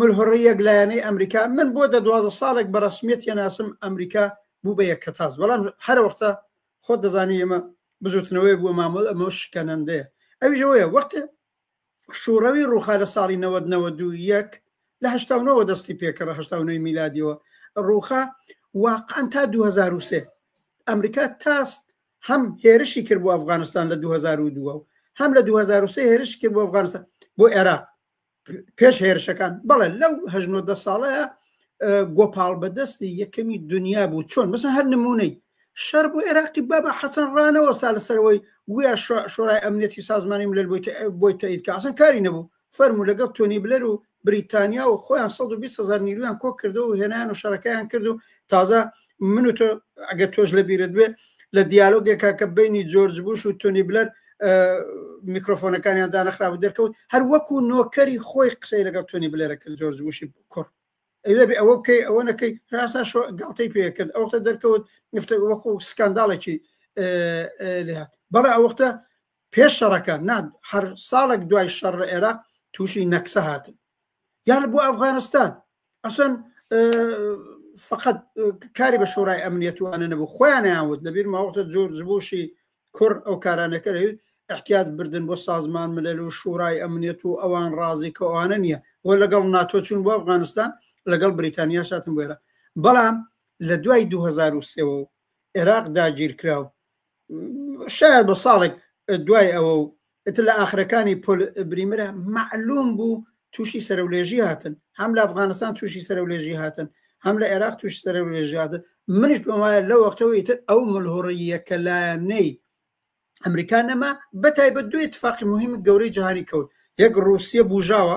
ملهڕی یەک لایەنەی ئەمریکا من بۆ دە دوازە ساڵێک بە ڕسمیەت هێناسم ئەمریکا بوو بە یەک کەتاز بەڵام هەر وەختە خۆت دەزانی ئێمە بزوتنەوەی بووە مامۆل ئەمە شکەنەندەیە ئەویژەوەیە وەختێ شوڕەوی ڕوخا لە ساڵی 1992 لە هشتاەوە دەستی پێکەڕ هشتاەوەی میلادیەوە ڕوخا واقعان تا 2023 ئەمریکا تاس هەم هێرشی کرد بۆ ئەفغانستان لە 2002 هەم لە 2023 هێرش کرد بۆ ئەفغانستان بۆ عێراق پێش هێرشەکان بەڵێ لەو هەژنۆ دە ساڵەیە گۆپاڵ بەدەستی یەکەمی دنیا بوو چۆن مەسە هەر نمونەی شەر بۆ عێراقی بابا حەسەن ڕانەوەستا لەسەرەوەی گویا شۆرای ئەمنیەتی سازمانی ملل بۆی تەید کاسن کاری نەبوو فەرمو لەگەڵ تۆنی بلەر و بریتانیا و خۆیان 120 هزار نیرویان کۆ کردو و هێنان و شەرەکەیان کرد و تازە من و تۆ ئەگە تۆش لە بیرت بێ لە دیالۆگێکا کە بینی جۆرج بوش و تۆنی بلەر میکرۆفۆنەکانیان دانەخرا و دەرکەوت هەر وەکو نۆکەری خۆی قسەی لەگەڵ تۆنی بلێرە کرد جۆرج بوشی کوڕ ئەوێبێ ئەوە بکەی ئەوە نەکەی هاسا شۆ گڵتەی پێ کرد ئەوتە دەرکەوت نفتە وەکو سکانداڵێکی لێهات بەڵێ ئەوەختە پێش شەڕەکە نان هەر ساڵێک دوای شەڕ لە عێراق تووشی نەکسە هاتن یان بۆ ئەفغانستان ئەسن فقط کاری بە شۆرای ئەمنیەت و ئەە نەبوو خۆیانیان وت لەبیر ماوەتە جۆر جبوشی کوڕ ئەو کارانەکە لەویت احتیاط بردن بۆ سازمان ملل و شوڕای ئەمنیەت و ئەوان ڕازی کە ئەوانە نییە بۆ لەگەڵ ناتۆ چون بۆ ئەفغانستان لەگەڵ بریتانیا شاتم بێرە بەڵام لە دوای 2023 عێراق داگیرکراو شاید بە ساڵێک دوای ئەوە و ئتر لە ئاخرەکانی پۆل بریمرە معلوم بوو تووشی سەرولێژی هاتن هەم لە ئەفغانستان تووشی سەرولێژی هاتن هەم لە عێراق توش سەرولێژیادە منش پێم وایە لە وەختەوەی تر ئەو ملهوڕیە کە لایەنەی ئەمریکا نەما بە تایبەت دوێ تفاقی مهمی گەورەی جیهانی کەوت یەک ڕوسیە بژاوە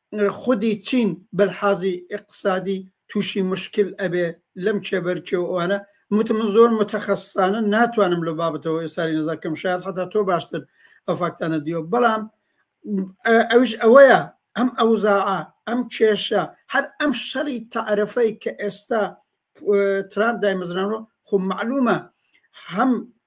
خودی چین بەلحازی ئیقتسادی توشی مشکل ئەبێ لەم کێبەرکێو ئەوانە وتم من زۆر متەخەسسانە ناتوانم لەو بابەتەوە ئێساری نەزەر بکەم شایەد حەتا تۆ باشتر ئەو فاکتانە دیوە بەڵام ئەوش ئەوەیە ئەم ئەوزاع ئەم کێشە هەر ئەم شەڕی تعرفەی کە ئێستا ترامپ دایمەزرانەوە خو معلومە هەم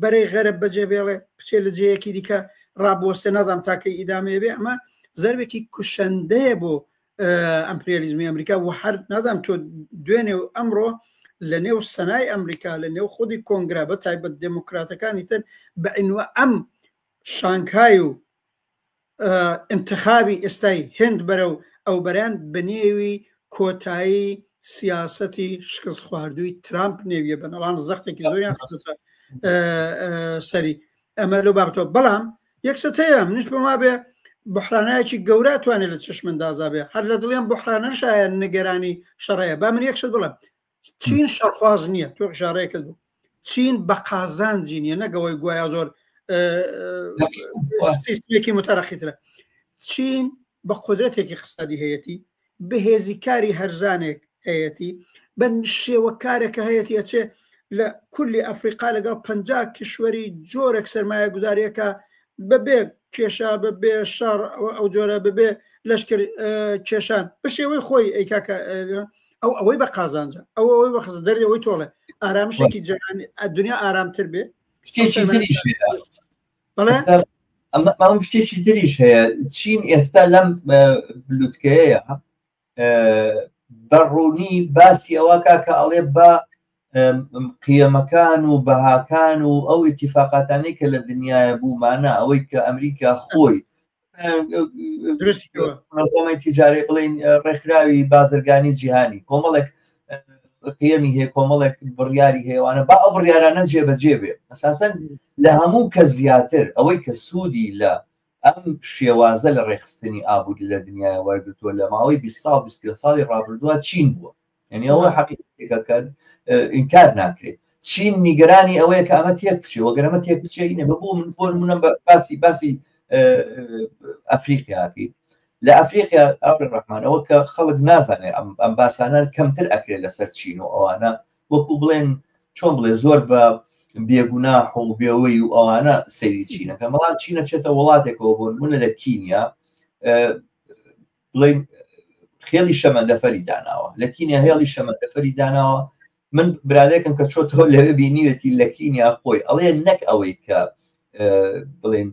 بەرەی غەرب بەجێ بێڵێ بچێ لە جێیەکی دیکە ڕابۆستێ نازام تاکەی ئیدامەیە بێ ئەمە زەربێکی کوشەندەیە بۆ ئەمپریالیزمی ئەمریکا و هەر نازام تۆ دوێنێ و ئەمڕۆ لە نێو سەنای ئەمریکا لە نێو خودی کۆنگرا بە تایبەت دموکراتەکانی تر بە ئەنوە ئەم شانکای و ئینتخابی ئێستای هێند بەرەو ئەوبەرەن بەنێوی کۆتایی سیاسەتی شکست خواردووی ترامپ نێویە بەنەڵان زەختێکی زۆریان خستە سەری ئەمە لەو بابەتەوە بەڵام یەکسەت هەیە منش بما بێ بحرانایەکی گەورە توانێت لە چشمندازا بێ هەر لە دڵیان بحرانە شایە نیگەرانی شەڕەیە با من یەکشت بڵم چین شەرخواز نییە تۆ ژارەیە کرد بوو چین بە قازانجی نیە نەگەوەی گویا زۆر سیستمێکی متەرەخیترە چین بە قدرەتێکی خستادی هەیەتی بەهێزی کاری هەرزانێک هەیەتی بە شێوەکارێکە هەیەتی ئەچێ لە کولی ئەفریقا لەگەڵ پ کیشوەری جۆرەك سرمایە گوزاریەکە بەبێ کێشا بەبێ شار ئەو جۆرە ببێ لەشکر کێشان بە شێوەی خۆی ئەیکاکە ئەو ئەوەی بە قازانجە ئەو ئەوەی بەخز دەری ئەوەی تۆڵێ ئارامشێکی جەهان دنیا ئارامتر بێ بەڵێ ئەمەم شتێکی تریش هەیە چین ئێستا لەم بلوتکەیە بەڕوونی باسی ئەوە کا کە ئەڵێ بە قیەمەکان و بەهاکان و ئەو اتفاقاتانی کە لە دنیاە بوومانە ئەوەی کە ئەمریکا خۆی درستی نەزەمەی تیجارەی بڵین ڕێکخراوی بازرگانی جیهانی کۆمەڵێک پێمی هەیە کۆمەڵێک بڕیاری هێوانە با ئەو بڕیارانە جێبەجێ بێ ئەساسەن لە هەموو کە زیاتر ئەوەی کە سوودی لە ئەم شێوازە لە ڕێخستنی ئابووری لە دنیای وەرگتووە لە ماوەی 20 سال 20 ساڵی ڕابردووە چین بووە یعنی ئەوە حەقیقەتێکە کە ئینکار ناکرێت چین نیگەرانی ئەوەیە کە ئەمە تێک بچێ وەگەرەمە تێک بچێ نە بە بۆ من بۆن منە باسی باسی ئەفریقیاتی لە ئەفریقیا ئەوڕ ڕحمانەوە کە خەڵک نازانێت ئەم باسانە کەمتر ئەکرێت لەسەر چین و ئەوانە وەکو بڵێن چۆن بڵێ زۆر بە بێگونا حڵبێەوەی و ئەوانە سەیری چینەکە مەڵات چینە چێتە وڵاتێکەوە بۆن منە لە کینیا بڵێین خێڵی شەمەندەفەری داناوە لە کینیا هێڵی شەمەندەفەری داناوە من برادێکم کە چۆتەوە لەوێ بینیوێتی لە کینیا خۆی ئەڵێ نەک ئەوەی کە بڵێن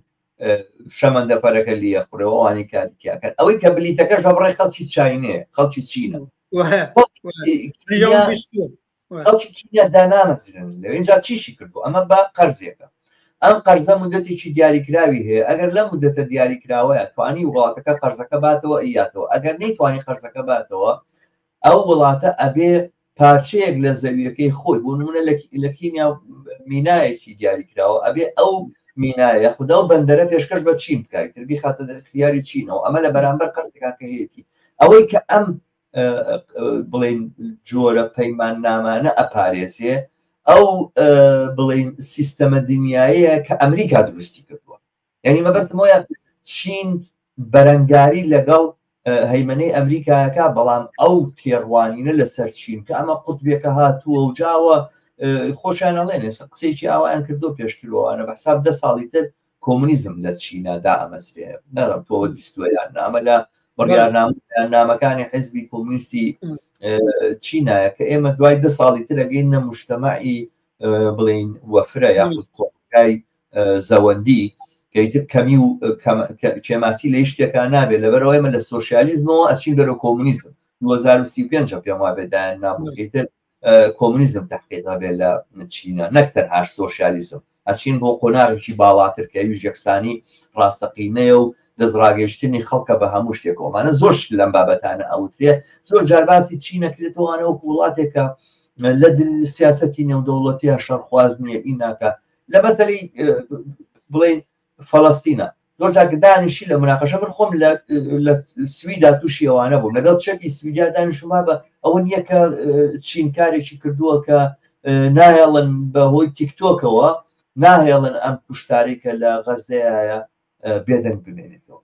شەمەندەفەرەکە لیە قڕەوەوانی کاریکیاکەن ئەوەی کە بلیتەکەش بەڕێ خەڵکی چینێ خەڵکی چینە خەڵکی کینیا دانامەزرێنن لەوێ ئینجا چیشی کردووە ئەمە بە قەرزێکە ئەم قەرزە مدەتێکی دیاریکراوی هەیە ئەگەر لەم مدەتە دیاریکراوەیە توانی وڵاتەکە قەرزەکە باتەوە ئیاتەوە ئەگەر نەیتوانی قەرزەکە باتەوە ئەو وڵاتە ئەبێ پارچەیەک لە زەویەکەی خۆی بۆ نمونە لە کینیا مینایەکی دیاریکراوە ئەبێ ئەو مینایە خدا و بەندەرە پێشکەش بە چین بکایتر بیخاتە دەرخیاری چینەوە ئەمە لە بەرامبەر قەرزەکە هەیەی ئەوەی کە ئەم بڵین جۆرە پەیمان نامانە ئەپارێزێ ئەو بڵین سیستەمە دنیاە کە ئەمریکا دروستی کردووە یعنی مەبەستمۆە چین بەرەنگاری لەگەڵ هەیمنەی ئەمریکایەکە بەڵام ئەو تێڕوانینە لەسەر چین کە ئەمە قوتبێکە هاتووە و جاوە خۆشیانەڵێنێ قسێکی ئاوایان کردو پێشتروانە بە حساب دە ساڵی تر کۆمونیزم لە چینا دائەمەزرێ نەڵێم تۆ ئەوە بیستووە یان نا ئەمە لە بڕیارنامە بەیاننامەکانی حزبی کۆمونیستی چینایە کە ئێمە دوای دە ساڵی تر ئەگەین نە مشتەمەعی بڵین وەفرە یاخود کۆمەلگای زەوەندی کەیتر کەمی و کێماسی لە شتێکان نابێت لەبەرەوە ئێمە لە سۆسیالیزمەوە ئەچین بەرە کۆمونیزم 2025 پێم وابێدایان نابوویتر کۆمونیزم تەحقیق ئەبێت لە چینە نەک تەنهاش سۆشیالیزم ئەچین بۆ قۆناغێکی باڵاتر کە ئەویش یەکسانی ڕاستەقینەیە و دەستڕاگەیشتنی خەڵکە بە هەموو شتێک ئەومانە زۆر شت لەم بابەتانە ئەوترێت زۆر جارباسی چی نەکرێتەوەوانە وەک وڵاتێکە لە سیاستی نێودەوڵەتیە شەرخواز نییە ئیناکە لە مەسەری بڵێن فەلەستینە زۆر جاکە دانیشی لە مناقەشە من خۆم لە سویدا تووشی ئەوانە بووم لەگەڵ چەپی سویدیا دانیشما بە ئەوە نییە کە چین کارێکی کردووە کە نایەڵن بە هۆی تیکتۆکەوە ناهێڵن ئەم کوشتاری کە لە غەزەیە بێدەنگ بمێنێتەوە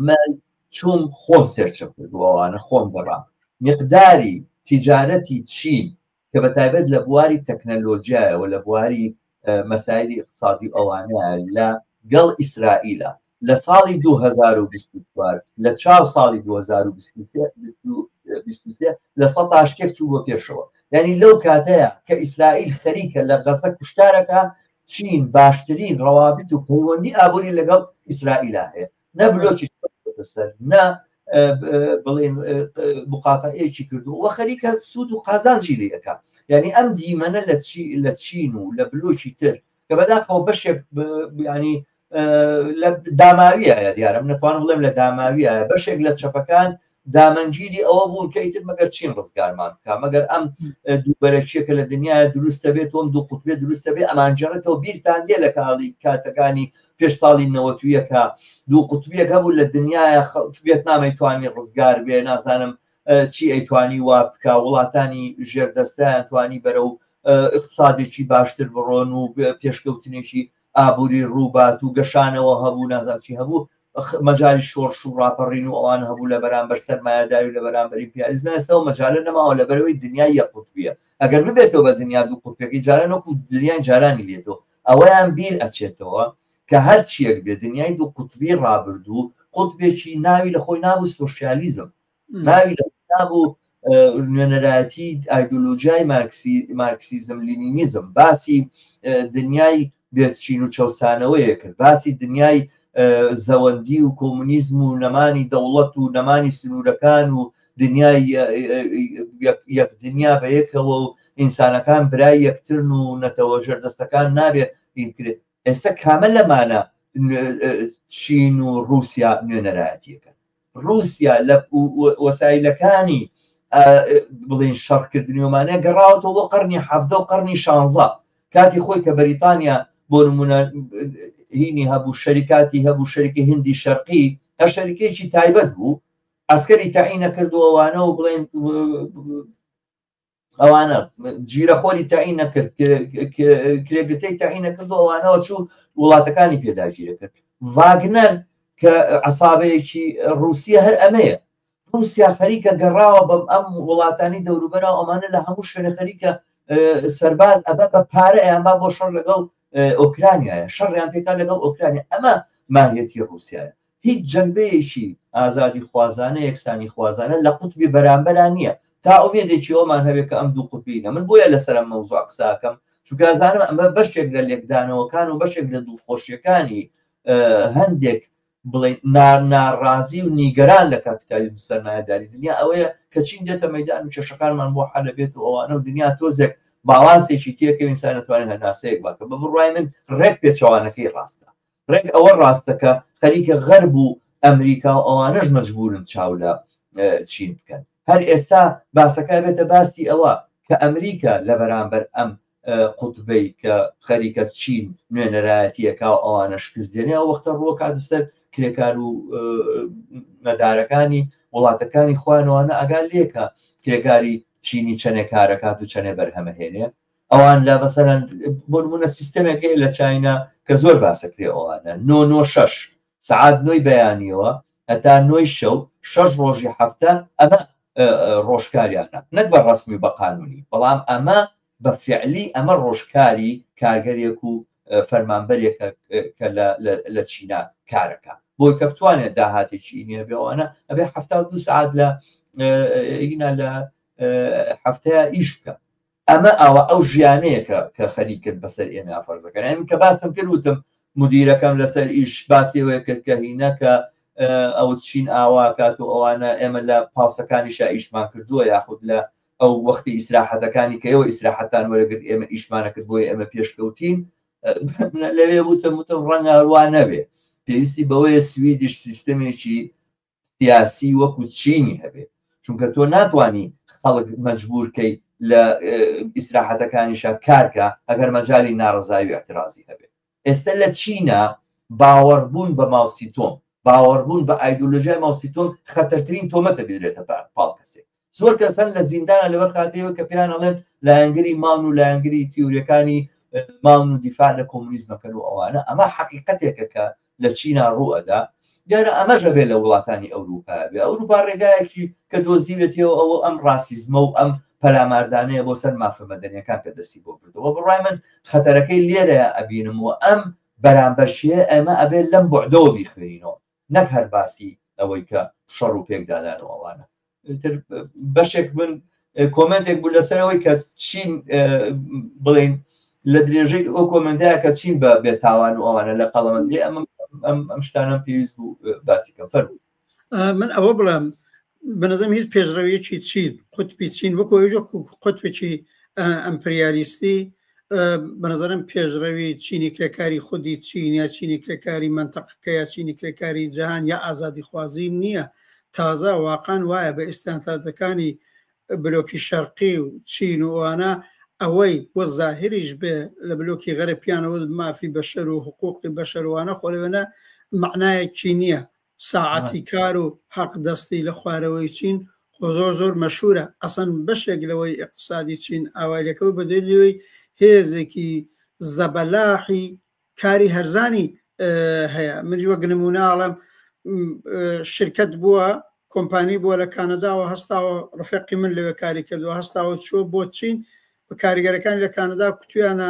من چوم خۆم سێرچە کردووانە خۆم گەڕام مقداری تیجارەتی چین کە بە تایبەت لە بواری تەکنەلۆجیایەوە لە بواری مەسایلی اقتصادی ئەوانە لە گەڵ ئیسرائیلە لە ساڵی 2024 لە چاو ساڵی 2023 لە سە شتێک چوو بۆ پێشەوە یعنی لەو کاتەیە کە ئیسرائیل خەریکە لە غەزە کوشتارەکە چین باشترین ڕەوابت و پەیوەندی ئابووری لەگەڵ ئیسرائیلا هەیە نە بلۆکی سەر نە بڵێن مقاتەعەیەکی کردو وە خەریکە سوود و قازانجی لێ ئەکا یعنی ئەم دیمەنە لە لە چین و لە بلۆکی تر کە بەداخەوە بەشێک ینی لە داماویە دیارم نتوان بڵێم لە داماویە بەشێک لە چەپەکان دامەنگیری ئەوە بوون کە ئیتر مەگەر چین ڕزگارمان بکە مەگەر ئەم دووبەرەکیەکە لە دنیاە دروستە بێت تۆم دوو قوتبێ دروستە بێ ئەمانجارەتەوە بیرتان دێ لە کاڵی کاتەکانی پێش ساڵی نەوەتویەکە دوو قوتبیەک هەبوو لە دنیاە بێت نامی توانی ڕزگار بێ نازانم چی ئەیتوانی وا بکە وڵاتانی ژێردەستیان توانی بەرە و اقتصادێکی باشتر بڕۆن و پێشکەوتنێکی ئابوری ڕوبات و گەشانەوە هەبوو نازانم چی هەبوو مەجای شۆرش و ڕاپەڕین و ئەوان هەبوو لە بەرامبەر سەرمایەداری و لە بەرامبەری پیاریزم ئێستاەوە مەجالە نەماوە لەبەرەوەی دنیا یە قوتبیە ئەگەر ببێتەوە بە دنیا دوو قوتپێکی جاران وەکو دنیای جارانی لێتەوە ئەوەیان بیر ئەچێتەوە کە هەر چیەک بێ دنیای دوو قوتبی ڕابردوو قوتبێکی ناوی لە خۆی نابوو سۆشیالیزم ناوی لە کتاب و نوێنەرایەتی ئایدۆلۆژیای مارکسیزم لینینیزم باسی دنیای بێچین و چەوسانەوەیە کرد باسی دنیای زەوەندی و کۆمونیزم و نەمانی دەوڵەت و نەمانی سنوورەکان و دنیای یەک دنیا بە یەکەوە و ئینسانەکان برای یەکترن و نەتەوە ژێردەستەکان نابێت کرێت ئێستا کامە لەمانە چین و رووسیا نوێنەرایەتیەکە ڕوسیا لە وەسایلەکانی بڵین شەڕکردنیۆمانە گەڕاوەتەوە بۆ قڕنی حەفدە و قڕنی شانزە کاتی خۆی کە بەریتانیا بۆ نمونە هینی هەبوو شەریکاتی هەبوو شەرکی هندی شەرقی هە شەریکێکی تایبەت بوو ئەسکەری تەعینە کردووەوانە و بڵێن ئەوانە جیرەخۆری تاین نەکرد کرێگرتەی تاین نەکرد ئەوانەوە چوو وڵاتەکانی پێداگیرە کرد واگنەر کە عسابەیەکی رووسیا هەر ئەمەیە رووسیا خەریکە گەڕاوە بەم ئەم وڵاتانی دەوروبەرا ئەمانە لە هەموو شوێنە خەریکە سەرباز ئەبە بە پارە ئەیان با بۆ شەڕ لەگەڵ ئۆکرانیایە شەڕیان پێکان لەگەڵ ئۆکرانیا ئەمە ماهەتی رووسایە هیچ جەنبەیەکی ئازادیخوازانە یەکسانیخوازانە لە قوتبی بەرامبەرا نییە تا ئومێدێکی ئەوەمان هەبێت کە ئەم دوو قوتبیینە من بۆیە لەسەر ئەم مەوزوعە قسە ئەکەم چونکە ئەزانم ئەمە بەشێک لە لێکدانەوەکان و بەشێک لە دڵخۆشییەکانی هەندێک بڵێ ناڕازی و نیگەران لە کاپیتالیزم سەرمایەداری دنیا ئەوەیە کە چین دێتە مەدان و کێشەکانمان بۆ حەل بێت و ئەوانە و دنیا تۆزێک باڵانسێکی تێکەوین سانەتوانین هەناسەیەک باکە بە بڕای من ڕێک پێچەوانەکەی ڕاستە ڕێک ئەوە ڕاستە کە خەریکە غەرب و ئەمریکا و ئەوانەش مەجبورن چاو لە چین بکەن هەر ئێستا باسەکە بێتە باسی ئەوە کە ئەمریکا لە بەرامبەر ئەم قوتبەی کە خەریکە چین نوێنەرایەتیەکە و ئەوانە شکست دێنێ ئەو وەختە ڕووە کاتستەر کرێکار و نەدارەکانی وڵاتەکانی خوانوانە ئەگا لێکە کرێکاری چینی چەنێ کارەکات و چەنێ بەرهەمەهێنێ ئەوان لە مەسەرەن بۆنمونە سیستەمێک هەیە لە چاینا کە زۆر باسەکرێ ئەوانە نۆ نۆ شەش سعات نۆی بەیانیەوە هەتا نۆی شەو شەش ڕۆژی هەفتە ئەمە ڕۆژکاریانە نەک بە ڕسمی بە قانونی بەڵام ئەمە بە فعلی ئەمە ڕۆژکاری کارگەرێک و فەرمانبەرێکە کە لە چینا کارەکە بۆی کە بتوانێت داهاتێکی ئینە بێوانە ئەبێ ه دو سعات لە ئینا لە هەفتەیە ئیش بکە ئەمە ئاوا ئەو ژیانەیە کە کە خەریک کرد بەسەر ئێمەیا فەرز دەکەن یانی کە باسم کرد وتم مدیرەکەم لەسەر ئیش باسی ئەوەیە کرد کە هینە کە ئەوت چین ئاوا کات و ئەوانە ئێمە لە پاوسەکانیشا ئیشمان کردووە یاخود لە ئەو وەختی ئیسراحەتەکانی کە ئێوە ئیسراحەتان وەرەگرت ئێمە ئیشمانە کرد بۆی ئێمە پێشکەوتین لەوێ وتم وتم ڕەنگە هەروە نەبێ پێویستی بەوەیە سویدیش سیستەمێکی سیاسی وەکو چینی هەبێ چونکە تۆ ناتوانی خەڵک مەجبور کەی لە ئیسراحەتەکانیشە کارکە ئەگەر مەجای ناڕزایی و اعترازی هەبێت ئێستا لە چینە باوەڕبوون بە ماوسی تۆم باوەڕبوون بە ئایدۆلۆژای ماوسی تۆم خەتەرترین تۆمەتە بێرێتە پاڵ کەسێک زۆر کەس هەن لە زیندانە لەبەر خاتەوە کە پێیان ئەڵێن لایەنگری ماون و لایەنگری تیورەکانی ماون و دیفاع لە کۆمونیزمەکەن و ئەوانە ئەمە حقیقەتێکە کە لە چینا ڕوئەدا دیارە ئەمەژە بێ لە وڵاتانی ئەوروپا بێ ئەوروپا ڕێگایەکی کە دۆزیوێتەوە ئەوە ئەم ڕاسیزمە و ئەم پەلاماردانەیە بۆ سەر مافە مەدەنیەکان کە دەستی بۆ بردەوە بڕای من خەتەرەکەی لێرەیە ئەبینم و ئەم بەرامبەرشیە ئەمە ئەبێت لەم بۆعدەوە بیخوێنینەوە نەک هەر باسی ئەوەی کە شەڕ و پێکدادان و ئەوانە تر بەشێک من کۆمنتێک بوو لەسەرەوەی کە چین بڵین لە درێژەی ئەو کۆمنتەیە کە چین بە بێتاوان و ئەوانە لە قەڵەمەندی ئەم ئەم شتانم پێویست بوو باسی کە فەرموو من ئەوە بڵێم بەنەزم هیچ پێشڕەویەکی چین قوتبی چین وەکو ئەوژە قوتبێکی ئەمپریالیستی بەنظرم پێشڕەوی چینی کرێکاری خودی چین یا چینی کرێکاری منتەقەکە یا چینی کرێکاری جیهان یا ئازادی خوازی نییە تازە واقعان وایە بە ئستانتاتەکانی بلۆکی شەرقی و چین و ئەوانە ئەوەی بۆ زاهریش بێ لە بلۆکی غەرە پیانەوە مافی بەشەر و حقوقی بەشەروانە خۆلوێنە معنایەکی نییە ساعەتی کار و حەق دەستی لە خوارەوەی چین خۆ زۆر زۆر مەشهورە ئەسڵەن بەشێک لەوەی ئیقتسادی چین ئاوای لەکەوت بە دلیل ئەوەی هێزێکی زەبەلاحی کاری هەرزانی هەیە من وەک نمونە ئەڵێم شرکەت بووە کۆمپانی بووە لە کانەداوە هەستاوە ڕفێقی من لەوێ کاری کردووە هەستاوە چووە بۆ چین بە کاریگەرەکانی لە کانەدا کوتویانە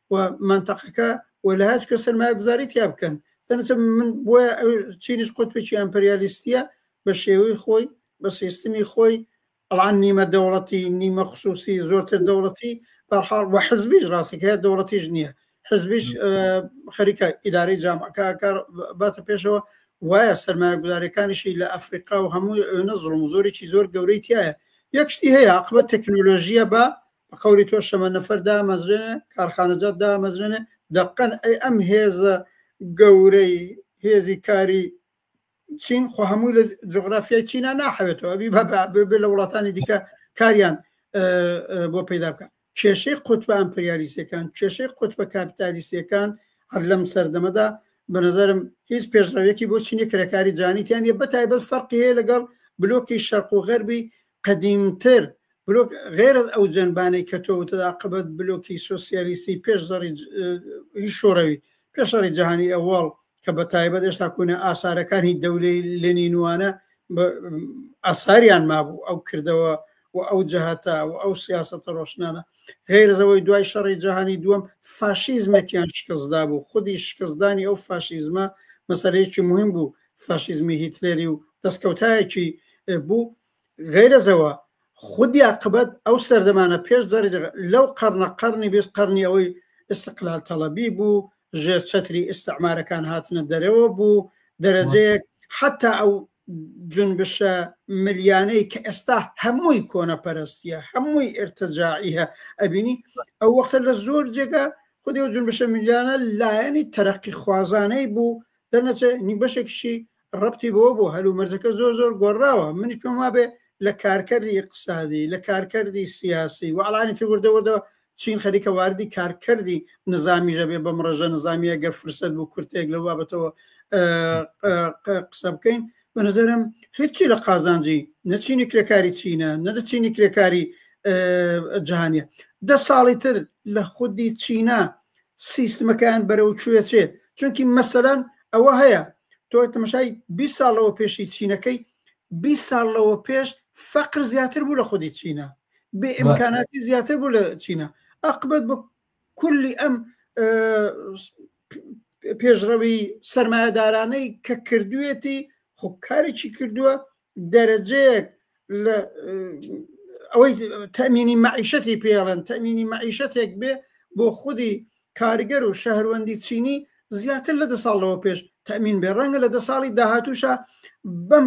و مەنتەقەکە و لە هەچکە سەرمایە گوزاری تیا بکەن دەنسە من بۆە چینش قوتپێکی ئەمپریالیستیە بە شێوەی خۆی بە سیستمی خۆی ئەڵان نیمە دەوڵەتی نیمە خصوصی زۆرتر دەوڵەتی بەحاڵ وە حزبیش ڕاستەکە دەوڵەتیش نییە حزبیش خەریکە ئیداری جامعەکە کار باتە پێشەوە وایە سەرمایە گوزارەکانیشی لە ئەفریقا و هەموو نەزڵم زۆرێکی زۆر گەورەی تایە یەکشتی هەیە عقبە تەکنۆلۆژیە بە بە قەولی تۆ شەمە نەفەر دامەزرێنێ کارخانەجات دامەزرێنێ دەقەن ئەی ئەم هێزە گەورەی هێزی کاری چین خۆ هەموو لە جغرافیای چینا ناحەوێتەوە بی بە لە وڵاتانی دیکە کاریان بۆ پیدا بکە کێشەی قوتبە ئەمپریالیسەکان کێشەی قوتبە کاپیتالیسیەکان هەر لەم سەردەمەدا بە نظرم هیچ پێشڕەوێکی بۆ چینی کرێکاری جانیتیان یە بەتایبەت فەرقی هەیە لەگەڵ بلۆکی شەرق و غەربی قەدیمتر، بلۆک غەیرەز ئەو جەنبانەی کە تۆ وتت ئاقبەت بلۆکی سۆسیالیستی پێش زەڕی ی شۆڕەوی پێش شەڕی جەهانی ئەوەڵ کە بە تایبەت هێشتا کونە ئاسارەکانی دەولەی لێنینوانە ئاساریان مابوو ئەو کردەوە و ئەو جەهاتە و ئەو سیاستە ڕۆشنانە غیرزەوەی دوای شەڕی جیهانی دووەم فاشیزمێکیان شکستدا بوو خودی شکستدانی ئەو فاشیزمە مەسەرەیەکی مهم بوو فاشیزمی هیتلێری و دەستکەوتایەکی بوو غیرەزەوە خودی عقبەت ئەو سەردەمانە پێش دەرج لەو قەرنە قەرنی بێست قەرنی ئەوەی استقلال تەڵەبی بوو ژێر چەتری ئستعمارەکان هاتنە دەرەوە بوو دەرەجەیەک حتا ئەو جنبشە ملیانەی کە ئێستا هەمووی کۆنەپەرستیە هەمووی ئرتەجاعیە ئەبینی ئەو وەختە لە زۆر جێگا خودی و جنبشە ملیانە لایەنی تەرەقی خوازانەی بوو دەرنەچێ نی بەشێکیشی ڕەبتی بەوە بوو هەل و مەرجەکە زۆر زۆر گۆڕاوە منیش پێم وابێ لە کارکەردی ئیقتسادی لە کارکەردی سیاسی و ئەڵانی تر وردە وردە چین خەریکە واردی کارکەردی نزامیش دەبێ بەم ڕێژە نزامیە گەر فرسەت بوو کورتێک لەو بابەتەوە قسە بکەین بە نظرم هیچی لە قازانجی نەچینی کرێکاری چینە نەدەچینی کرێکاری جهانیە دە ساڵی تر لە خودی چینە سیستمەکەیان بەرەو کوێ چێت چونکی مەسەلەن ئەوە هەیە تۆ تەمەشای 20 ساڵ لەوە پێشی چینەکەی 20 ساڵ لەوە پێش فەقر زیاتر بوو لە خودی چینە بێ ئیمکاناتی زیاتر بوو لە چینە ئەقبەت بۆ کولی ئەم پێشڕەوی سرمایهدارانەی کە کردوێتی خۆ کارێکی کردووە دەرەجەیەک لە ئەوەی تەمینی مەعیشەتی پێڵێن تەمینی مەعیشەتێک بێ بۆ خودی کارگەر و شەهروەندی چینی زیاتر لە دە ساڵەوە پێش تەمین بێ ڕەنگە لە دە ساڵی داهاتووشە بم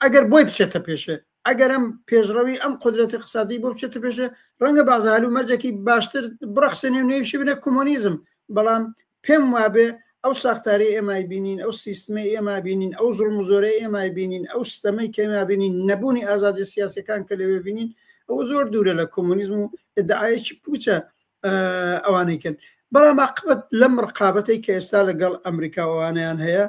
ئەگەر بۆی بچێتە پێشێ ئەگەرم پێشڕەوی ئەم قدرەتی قسادی بۆ بچێتە پێشێ ڕەنگە بازهال و مەرجێکی باشتر بڕەخسێنێ نوێوشی بنە کۆمۆنیزم بەڵام پێم وابێ ئەو ساختارەی ئێمە ئەیبینین، ئەو سیستمەی ئێمە ئەبینین، ئەو زوڵم و زۆرەی ئێمە ئەیبینین، ئەو ستەمەی کە ئێمە ئەبینین، نەبوونی ئازادییە سیاسییەکان کە لەوێ ئەبینین، ئەوە زۆر دوورە لە کۆمۆنیزم و ئیدعایەکی پووچە ئەوانەی کەن. بەڵام ئاقبەت لەم ڕقابەتەی کە ئێستا لەگەڵ ئەمریکا و ئەوانەیان هەیە،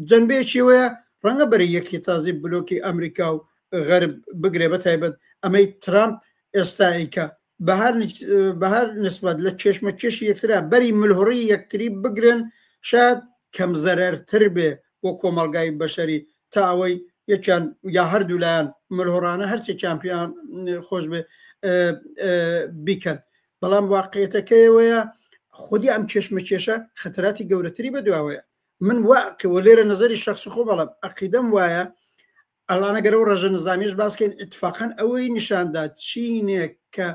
جەنبەیەکی ئەوەیە ڕەنگە بەرەی یەکێتازی بلۆکی ئەمریکا و غەرب بگرێ، بەتایبەت ئەمەی ترامپ ئێستا ئەیکا، بەهەر نسبەت لە کێشمەکێشی یەکترا بەری ملهوڕی یەکتری بگرن شاد کەم زەرەرتر بێ بۆ کۆمەلگای بەشەری تا ئەوەی یەکیان یا هەردوولایەن ملهۆڕانە هەرچێک کامپیان خۆش بێ بیکەن بەڵام واقعێتەکەیەوەیە خودی ئەم کێشمە کێشە خەتەراتی گەورەتری بە دواوەیە من واکەوە لێرە نظری شخص خۆ بەڵم عقیدەم وایە ئەلانە گەرەو ڕژە نزامیش باسکەین اتفاقەن ئەوەی نیشاندا چینێک کە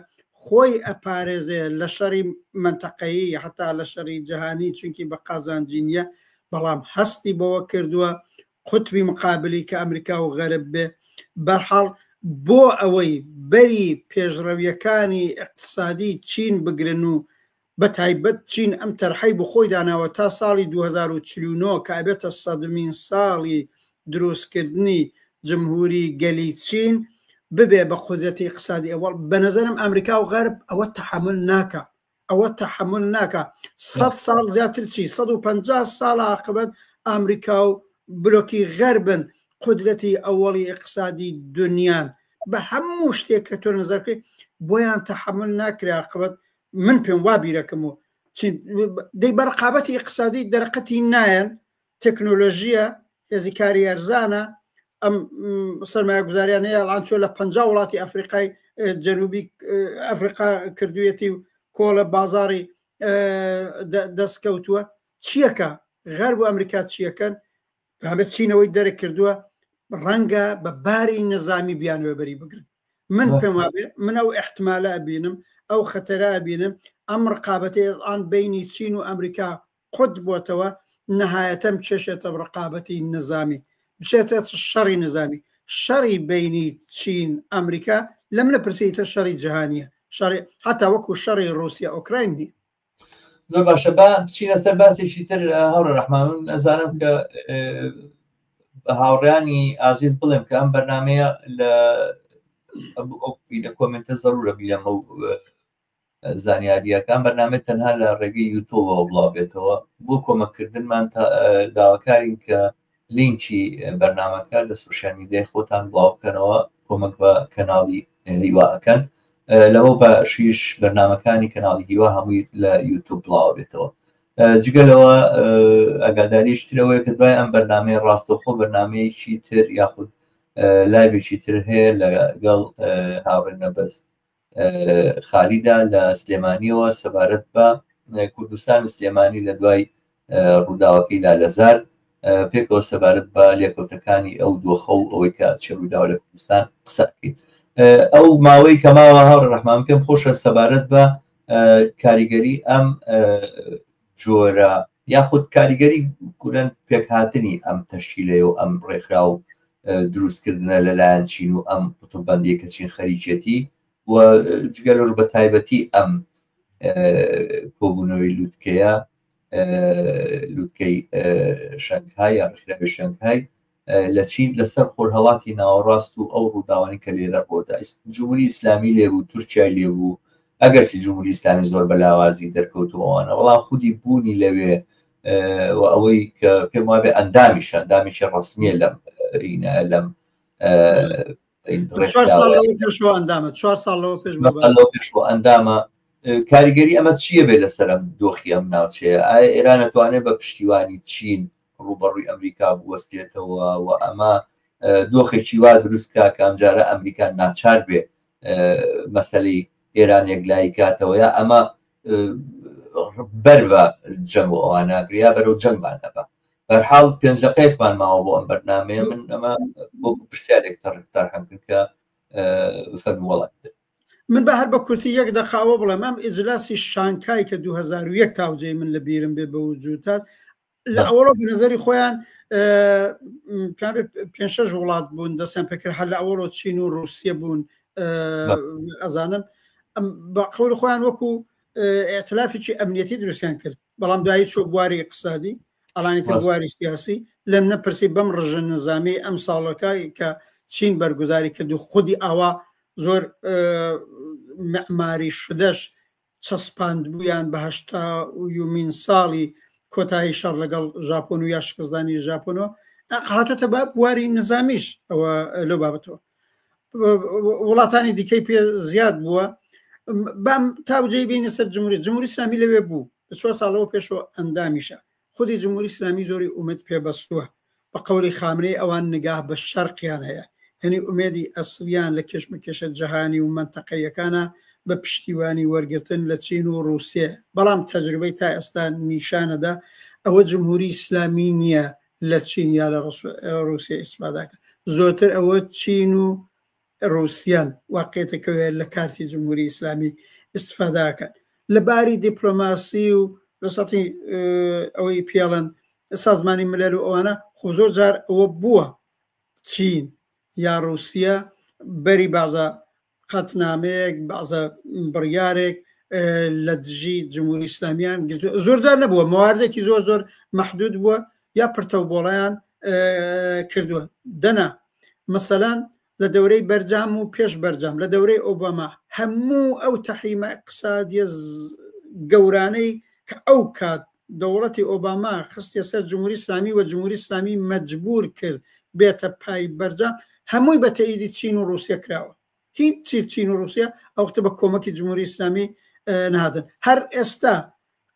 خۆی ئەپارێزێ لە شەڕی منتەقەیی هەتا لە شەڕی جیهانی چونکی بە قازانجینە بەڵام هەستی بەوە کردووە قوتبی مقابلی کە ئەمریکا و غەرب بێ بەرحاڵ بۆ ئەوەی بەری پێشڕەویەکانی اقتصادی چین بگرن و بە تایبەت چین ئەم تەرحەی بۆ خۆی داناوە تا ساڵی دوو هەزار و چل و نۆ کە ئەبێتە سەدمین ساڵی دروستکردنی جمهوری گەلی چین ببێ بە قودرەتی ئیقتسادی ئەوەڵ بە نەزەرم ئەمریکا و غەرب ئەوە تەحەمل ناکا ئەوە تەحەمل ناکا سەد ساڵ زیاتر چی سەد و پەنجا ساڵ ئاقبەت ئەمریکا و بلۆکی غەربن قودرەتی ئەوەڵی ئیقتسادی دنیان بە هەموو شتێک کە تۆ نەزەرکەی بۆیان تەحەمل ناکرێ ئاقبەت من پێم وا بیرەکەم و دەی بە ڕقابەتی اقتصادی دەرقەتی نایەن تەکنۆلۆژیە هێزیکاری ئەرزانە ئەم سەرمایە گوزاریان هەیە ئەڵان چۆ لە پ وڵاتی ئەفریقای جەنوبی ئەفریقا کردویەتی و کۆڵە بازاری دەستکەوتووە چیەکە غەر بۆ ئەمریکا چیەکەن بابەت چینەوەی دەرە کردووە ڕەنگە بە باری نەزامی بیانوێ بەری بگرن من پێم وابێ من ئەو احتمالە بینم ئەو خەتەرا بینم ئەم ڕقابەتی ئەڵان بینی چین و ئەمریکا قوت بۆتەوە نەهایەتەم چێشێتە ڕقابەتی نەزامی بچێتە شەڕی نزامی شەڕی بینی چین ئەمریکا لەم لە پرسیتە شەڕی جیهانیە شەڕی حتا وەکو شەڕی رووسیا ئۆکراین نیە زۆر باشە با بچینە سەر باسێکی تر هەوڕە ڕحمان من ئەزانم کە بە هاوڕیانی ئازیز بڵێم کە ئەم بەرنمەیە لە لە کۆمنتە زەرورە بیلەمە و زانیاریەکان بەرنامە تەنها لە ڕێگەی یوتۆبەوە بڵاو بێتەوە بۆ کۆمەکردنمان داواکارین کە لینکی بەرنامەکە لە سۆشیال میدیای خۆتان بڵاو بکەنەوە کۆمەک بە کەناڵی هیوا ئەکەن لەوە بە شیش بەرنمەکانی کەناڵی هیوا هەمووی لە یوتوب بڵاو بێتەوە جگە لەوە ئەگاداریش ترەوەی کە دوای ئەم بەرنمەی ڕاستەخۆ بەرنمەیەکی تر یاخود لایبێکی تر هەیە لەگەڵ هاوڕێ نەبەست خالیدا لە سلێمانیەوە سەبارەت بە کوردستان سلێمانی لە دوای ڕووداوەکەی لالەزار پێکەوە سەبارەت بە لێکەوتەکانی ئەو دۆخە و ئەوەی کە چ ڕووداوە لە کوردستان قسە بکەیت ئەو ماوەی کە ماوە هاوڕ ڕحمان پێم خۆشە سەبارەت بە کاریگەری ئەم جۆرە یاخود کاریگەری کورەن پێکهاتنی ئەم تەشکیلەیە و ئەم ڕێکخرا و دروستکردنە لەلایەن چین و ئەم قوتوبندی کە چین خەریکێتی و جگەلۆر بە تایبەتی ئەم کۆبوونەوەی لوتکەیە لوتکەی شەنگهای یا ڕێکخراوی شەنگهای لە چین لە سەر خۆرهەڵاتی ناوەڕاست و ئەو ڕووداوانەی کە لێرە ڕوو دا جمهوری ئیسلامی لێ بوو تورکیای لێ بوو ئەگەرچی جمهوری ئیسلامی زۆر بە لاوازی دەرکەوتووانە بەڵام خودی بوونی لەوێ و ئەوەی کە پێم وابێ ئەندامیش ئەندامیشی ڕسمیە لەم رینا لەم پێش ئەندامە کاریگەری ئەمە چییە بێ لەسەرم دۆخی ئەم ناوچەیە ئایا ئێرانە توانێت بە پشتیوانی چین ڕووبەڕووی ئەمریکا بوەستێتەوە و ئەمە دۆخێکی وا دروست کا کە ئەمجارە ئەمریکا ناچار بێ مەسەلەی ئێران یەکلایی کاتەوە یا ئەمە بەر بە جەنگ و ئەواناگریا بەرەو جەنگمان دەبە بەرحاڵ پێنجەقەیەکمان ماوە بۆ ئەم بەرنمەیە من ئەمە بۆ پرسیارێک تەڕکتار هەمکرد کە فەرموڵات من بە هەر بە کورتی یەک دەخاوە بڵێم ئەم ئیجلاسی شانکای کە 2001 تاوجێ من لە بیرم بێ بە وجوتات لە ئەوڵۆ بە نظری خۆیان پێ شەش وڵات بوون دەستیان پێکرد هەر لە ئەوڵۆ چین و رووسیە بوون ئەزانم بە قەور خۆیان وەکو ئەتلافێکی ئەمنیەتی دروستیان کرد بەڵام دایی چۆ بواری اقتصادی ئەلانی تر بواری سیاسی لەم نەپرسی بەم ڕژە نظامی ئەم ساڵەکەی کە چین بەرگوزاری کرد و خودی ئاوا زۆر معماری شدەش چەسپاندبوویان بە هەشتا و یومین ساڵی کۆتایی شەڕ لەگەڵ ژاپۆن و یا شکستدانی ژاپۆنەوە هاتۆتە بە بواری نزامیش ئەوە لەو بابەتەوە وڵاتانی دیکەی پێ زیاد بووە بام تاوجەی بینە سەر جمهوری جمهوری سامی لەوێ بوو چوار ساڵەوە پێشەوە ئەندامیشە خودی جمهوری اسلامی زۆری ئومێد پێ بەستوە بە قەولی خامنەی ئەوان نگاه بە شەرقیان هەیە یەنی ئومێدی ئەسلیان لە کێشمەکێشە جەهانی و مەنتەقەییەکانە بە پشتیوانی وەرگرتن لە چین و روسیە بەڵام تەجروبەی تا ئێستا نیشانەدا ئەوە جمهوری اسلامی نیە لە چین یا لە روسیە ئیسفاداکە زۆرتر ئەوە چین و ڕوسیان واقیتەکەوەیە لە کارتی جمهوری ئیسلامی ئیستفادا ئەکەن لە باری دیپلۆماسی و لە سەتی ئەوەی پیاڵن سازمانی ملەر و ئەوانە خۆ زۆر جار ئەوە بووە چین یا ڕوسیە بەری بازە قەتنامەیەک بازە بڕیارێک لە دژی جمهوری ئیسلامیان زۆر جار نەبووە مواردێکی زۆر زۆر محدود بووە یا پرتەو بۆڵیان کردووە دەنا مەسەلەن لە دەورەی بەرجام و پێش بەرجام لە دەورەی ئۆباما هەموو ئەو تەحریمە اقتصادیە گەورانەی کە ئەو کات دەوڵەتی ئۆباما خستە سەر جمهوری اسلامی و جمهوری اسلامی مجبور کرد بێتە پای بەرجام هەمووی بە تەیدی چین و رووسە کراوە هیچ چی چین و رووسیا ئەو وختە بە کۆمەکی جمهوری ئیسلامی نهادن هەر ئێستا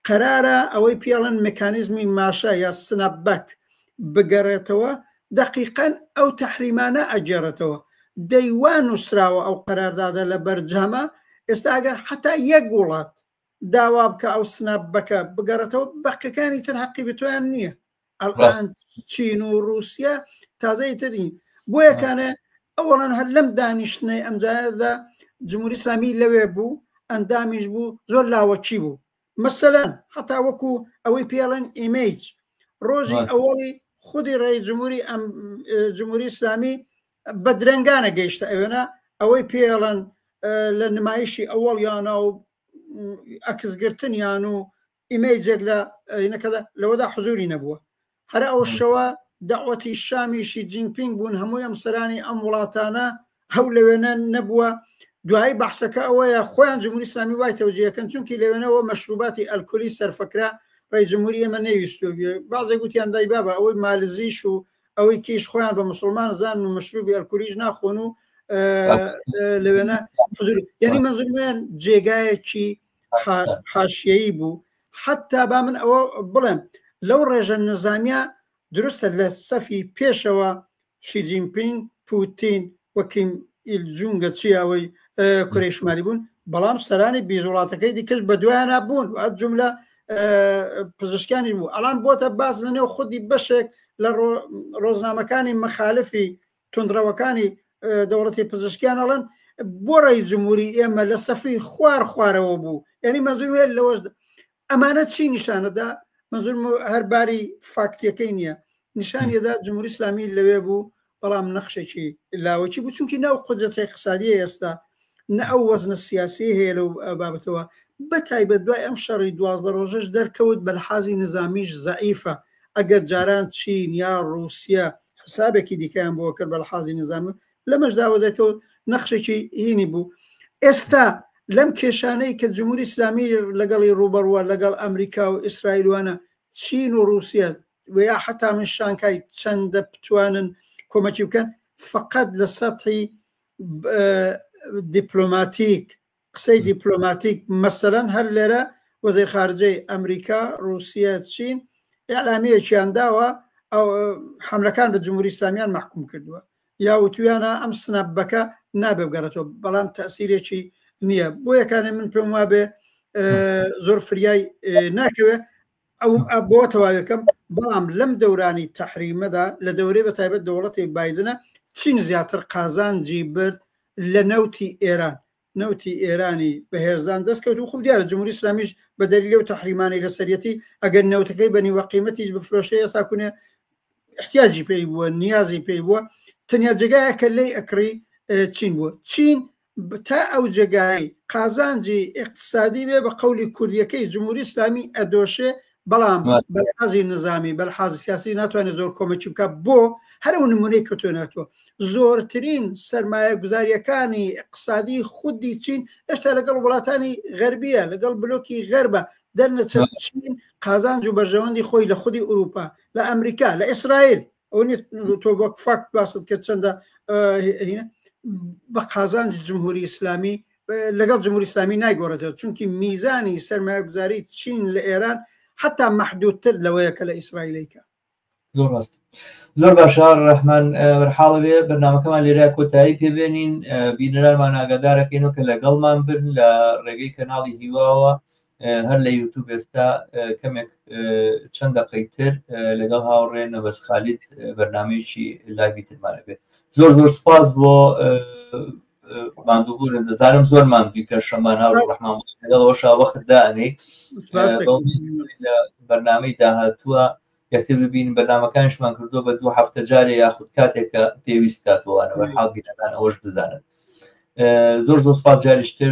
قەرارە ئەوەی پێڵەن مکانیزمی ماشا یا سناپ بەک بگەڕێتەوە دقیقەن ئەو تەحریمانە ئەگێڕێتەوە دەیوان نووسراوە ئەو قەراردادە لە بەرجامە ئێستا ئەگەر حتا یەک وڵات داوا بکە ئەو سناپ بەکە بگەڕێتەوە بەقەکانی تر حەقی بتویان نییە ئەڵان چین و رووسیا تازەی ترین بۆیەکانە ئەوڵان هەر لەم دانیشتنەی ئەمجاردا جمهوری سامی لەوێ بوو ئەندامیش بوو زۆر لاوەچی بوو مەسەلەن هەتا وەکو ئەوەی پێڵەن ئیمەیج ڕۆژی ئەوەڵی خودی ڕێی جمهوری ئەم جمهوری ئسلامی بە درنگانە گەیشتە ئەوێنە ئەوەی پێڵەن لە نمایشی ئەوەڵیانە و ئەکسگرتنیان و ئیمەیجێک لە ئەینەکە لەوەدا حزوری نەبووە هەر ئەو شەوە داوەتی شامیشی جینگپینگ بوون هەمووی ئەم سەرانی ئەم وڵاتانە هەو لەوێنە نەبووە دوایی بەحسەکە ئەوەیە خۆیان جمهوری ئسلامی وای تەوجیەکەن چونکی لەوێنەوە مەشروباتی ئەلکۆلی سەرفەکرا ڕێ جمهوری ئێمە نەویستو بازێک گوتیان دای بابە ئەوەی مالزیش و ئەوەی کیش خۆیان بە مسلمان زان و مەشروبی ئەلکولیش ناخۆن و لەوێنە حزور یعنی مەزرمیان جێگایەکی حاشیەیی بوو حتا با من ئەوە بڵێم لەو ڕێژە نەزانیا دروستە لە سەفی پێشەوە شیجینپینگ پوتین وەکیم ئیلجونگە چیاوەی کوری شمالی بوون بەڵام سەرانی بیز وڵاتەکەی دیکەش بە دوایانە بوون و ئەت جملە پزیشکانی بوو ئەڵان بۆتە باز لە نێو خودی بەشێک لە ڕۆژنامەکانی مەخالفی توندڕەوەکانی دەوڵەتی پزشکیان ئەڵێن بۆ ڕێی جمهوری ئێمە لە سەفی خوار خوارەوە بوو یعنی مەزور هێل لەوەش ئەمانە چی نیشانەدا مەزور هەرباری فاکتیەکەی نییە نیشانیدا جمهوری اسلامی لەوێ بوو بەڵام نەخشێکی لاوەکی بوو چونکی ناو قدرەتی قسادی ئێستا نە ئەو وەزنە سیاسیەی هەیە لەو بابەتەوە بە تایبەت دوای ئەم شەڕی دوازدە ڕۆژەش دەرکەوت بە لحاظی نظامیش زەعیفە ئەگەر جاران چین یا ڕوسیە حسابێکی دیکەیان بۆ کرد بە لحاظی نظامی لەمەش داوە دەکەوت نەخشێکی هینی بوو ئێستا لەم کێشانەی کە جمهوری ئسلامی لەگەڵی ڕوبەڕوە لەگەڵ ئەمریکا و ئیسرائیلوانە چین و رووسەت ویا حتا من شانکای چەندە بتوانن کۆمەکی بکەن فقط لە سەحی دیپلۆماتیک قسەی دیپلۆماتیک مەسەرەن هەر لێرە وەزیر خارجەی ئەمریکا رووسیا چین ئەلامیەکیان داوە ئەو حملەکان بە جمهوری ئسلامیان محکوم کردووە یا وتویانە ئەم سنەبەکە نابێ بگەڕێتەوە بەڵام تەسیرێکی نییە بۆ یەکانێ من پێم وابێ زۆر فریای ناکەوێ ئەوم ئە بۆ تەواویەکەم بەڵام لەم دەورانی تەحریمەدا لە دەورەی بە تایبەت دەوڵەتی بایدنە چین زیاتر قازانجی برد لە نەوتی ئێران نەوتی ئێرانی بەهێزدان دەستکەوت و خوب دیارە جمهوری اسلامیش بە دەلیل و تەحریمانی لەسەرەتی ئەگەر نەوتەکەی بەنی وەقیمەتیش بفرۆشەیە ساکوونێ احتیاجی پێی بووە نیازی پێی بووە تەنیا جێگایە کە لی ئەکڕی چین بووە چین تا ئەو جێگای قازانجی ئیقتسادی بێ بە قەولی کوردیەکەی جمهوری ئیسلامی ئەدۆشێ بەڵام بەلحازی نظامی بەلحازی سیاسی ناتوانێت زۆر کۆمەکی بکە بۆ هەرو نمونەی کەتۆنێتەوە زۆرترین سرمایە گوزاریەکانی اقتصادی خودی چین ئێشتا لەگەڵ وڵاتانی غەربیە لەگەڵ بلۆکی غەربە دەرنەچین قازانج و بەرژەوەندی خۆی لە خودی ئوروپا لە ئەمریکا لە ئیسرائیل ئەو تۆ وەک فاکت باست کرد چەندە بە قازانج جمهوری ئیسلامی لەگەڵ جمهوری ئسلامی نایگۆڕێتەوە چونکی میزانی سرمایە گوزاری چین لە ئێران حتا محدودتر لەوەیە کە لە ئیسرائیلەیکە زۆر ڕاست زۆر باشە ڕحمان بەرحاڵەوێ بەنامەکەمان لێرا کۆتایی پێبێنین بینەرانمان ئاگادارەکەین و کە لەگەڵمان برن لە ڕێگەی کەناڵی هیواوە هەر لە یوتوب ئێستا کەمێک چەند دەقەی تر لەگەڵ هاوڕێ نەبەس خالید بەرنمەیەکی لاوی ترمانەبێت زۆر زۆر سپاس بۆ ماندووبوورن دەزانم زۆر ماندوی پێشەمان هاوڕحمان لەگەڵەوەشا وەخت دانێ لە بەرنمەی داهاتووە یەکتر ببین بەرنمەکانشمان کردو بە دوو هەفتە جارێ یاخود کاتێکە پێویست کاتوانەوە حاڵ بیرەکان ئەوەش بزانن زۆر زۆر سپاس جاریشتر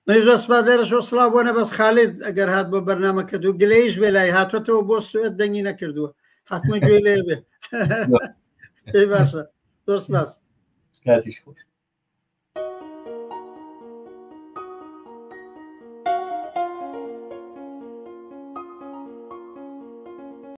منیش دەست سپاس لێرەشەوە سڵاو بۆ نەبەست خالید ئەگەر هات بۆ بەرنمەکە دوو گلەیش بێ لای هاتوەتەوە بۆ سوێت دەنگی نەکردووە حتممە گوێ لێ بێ پێی باشە دۆست باس کاتیش خۆش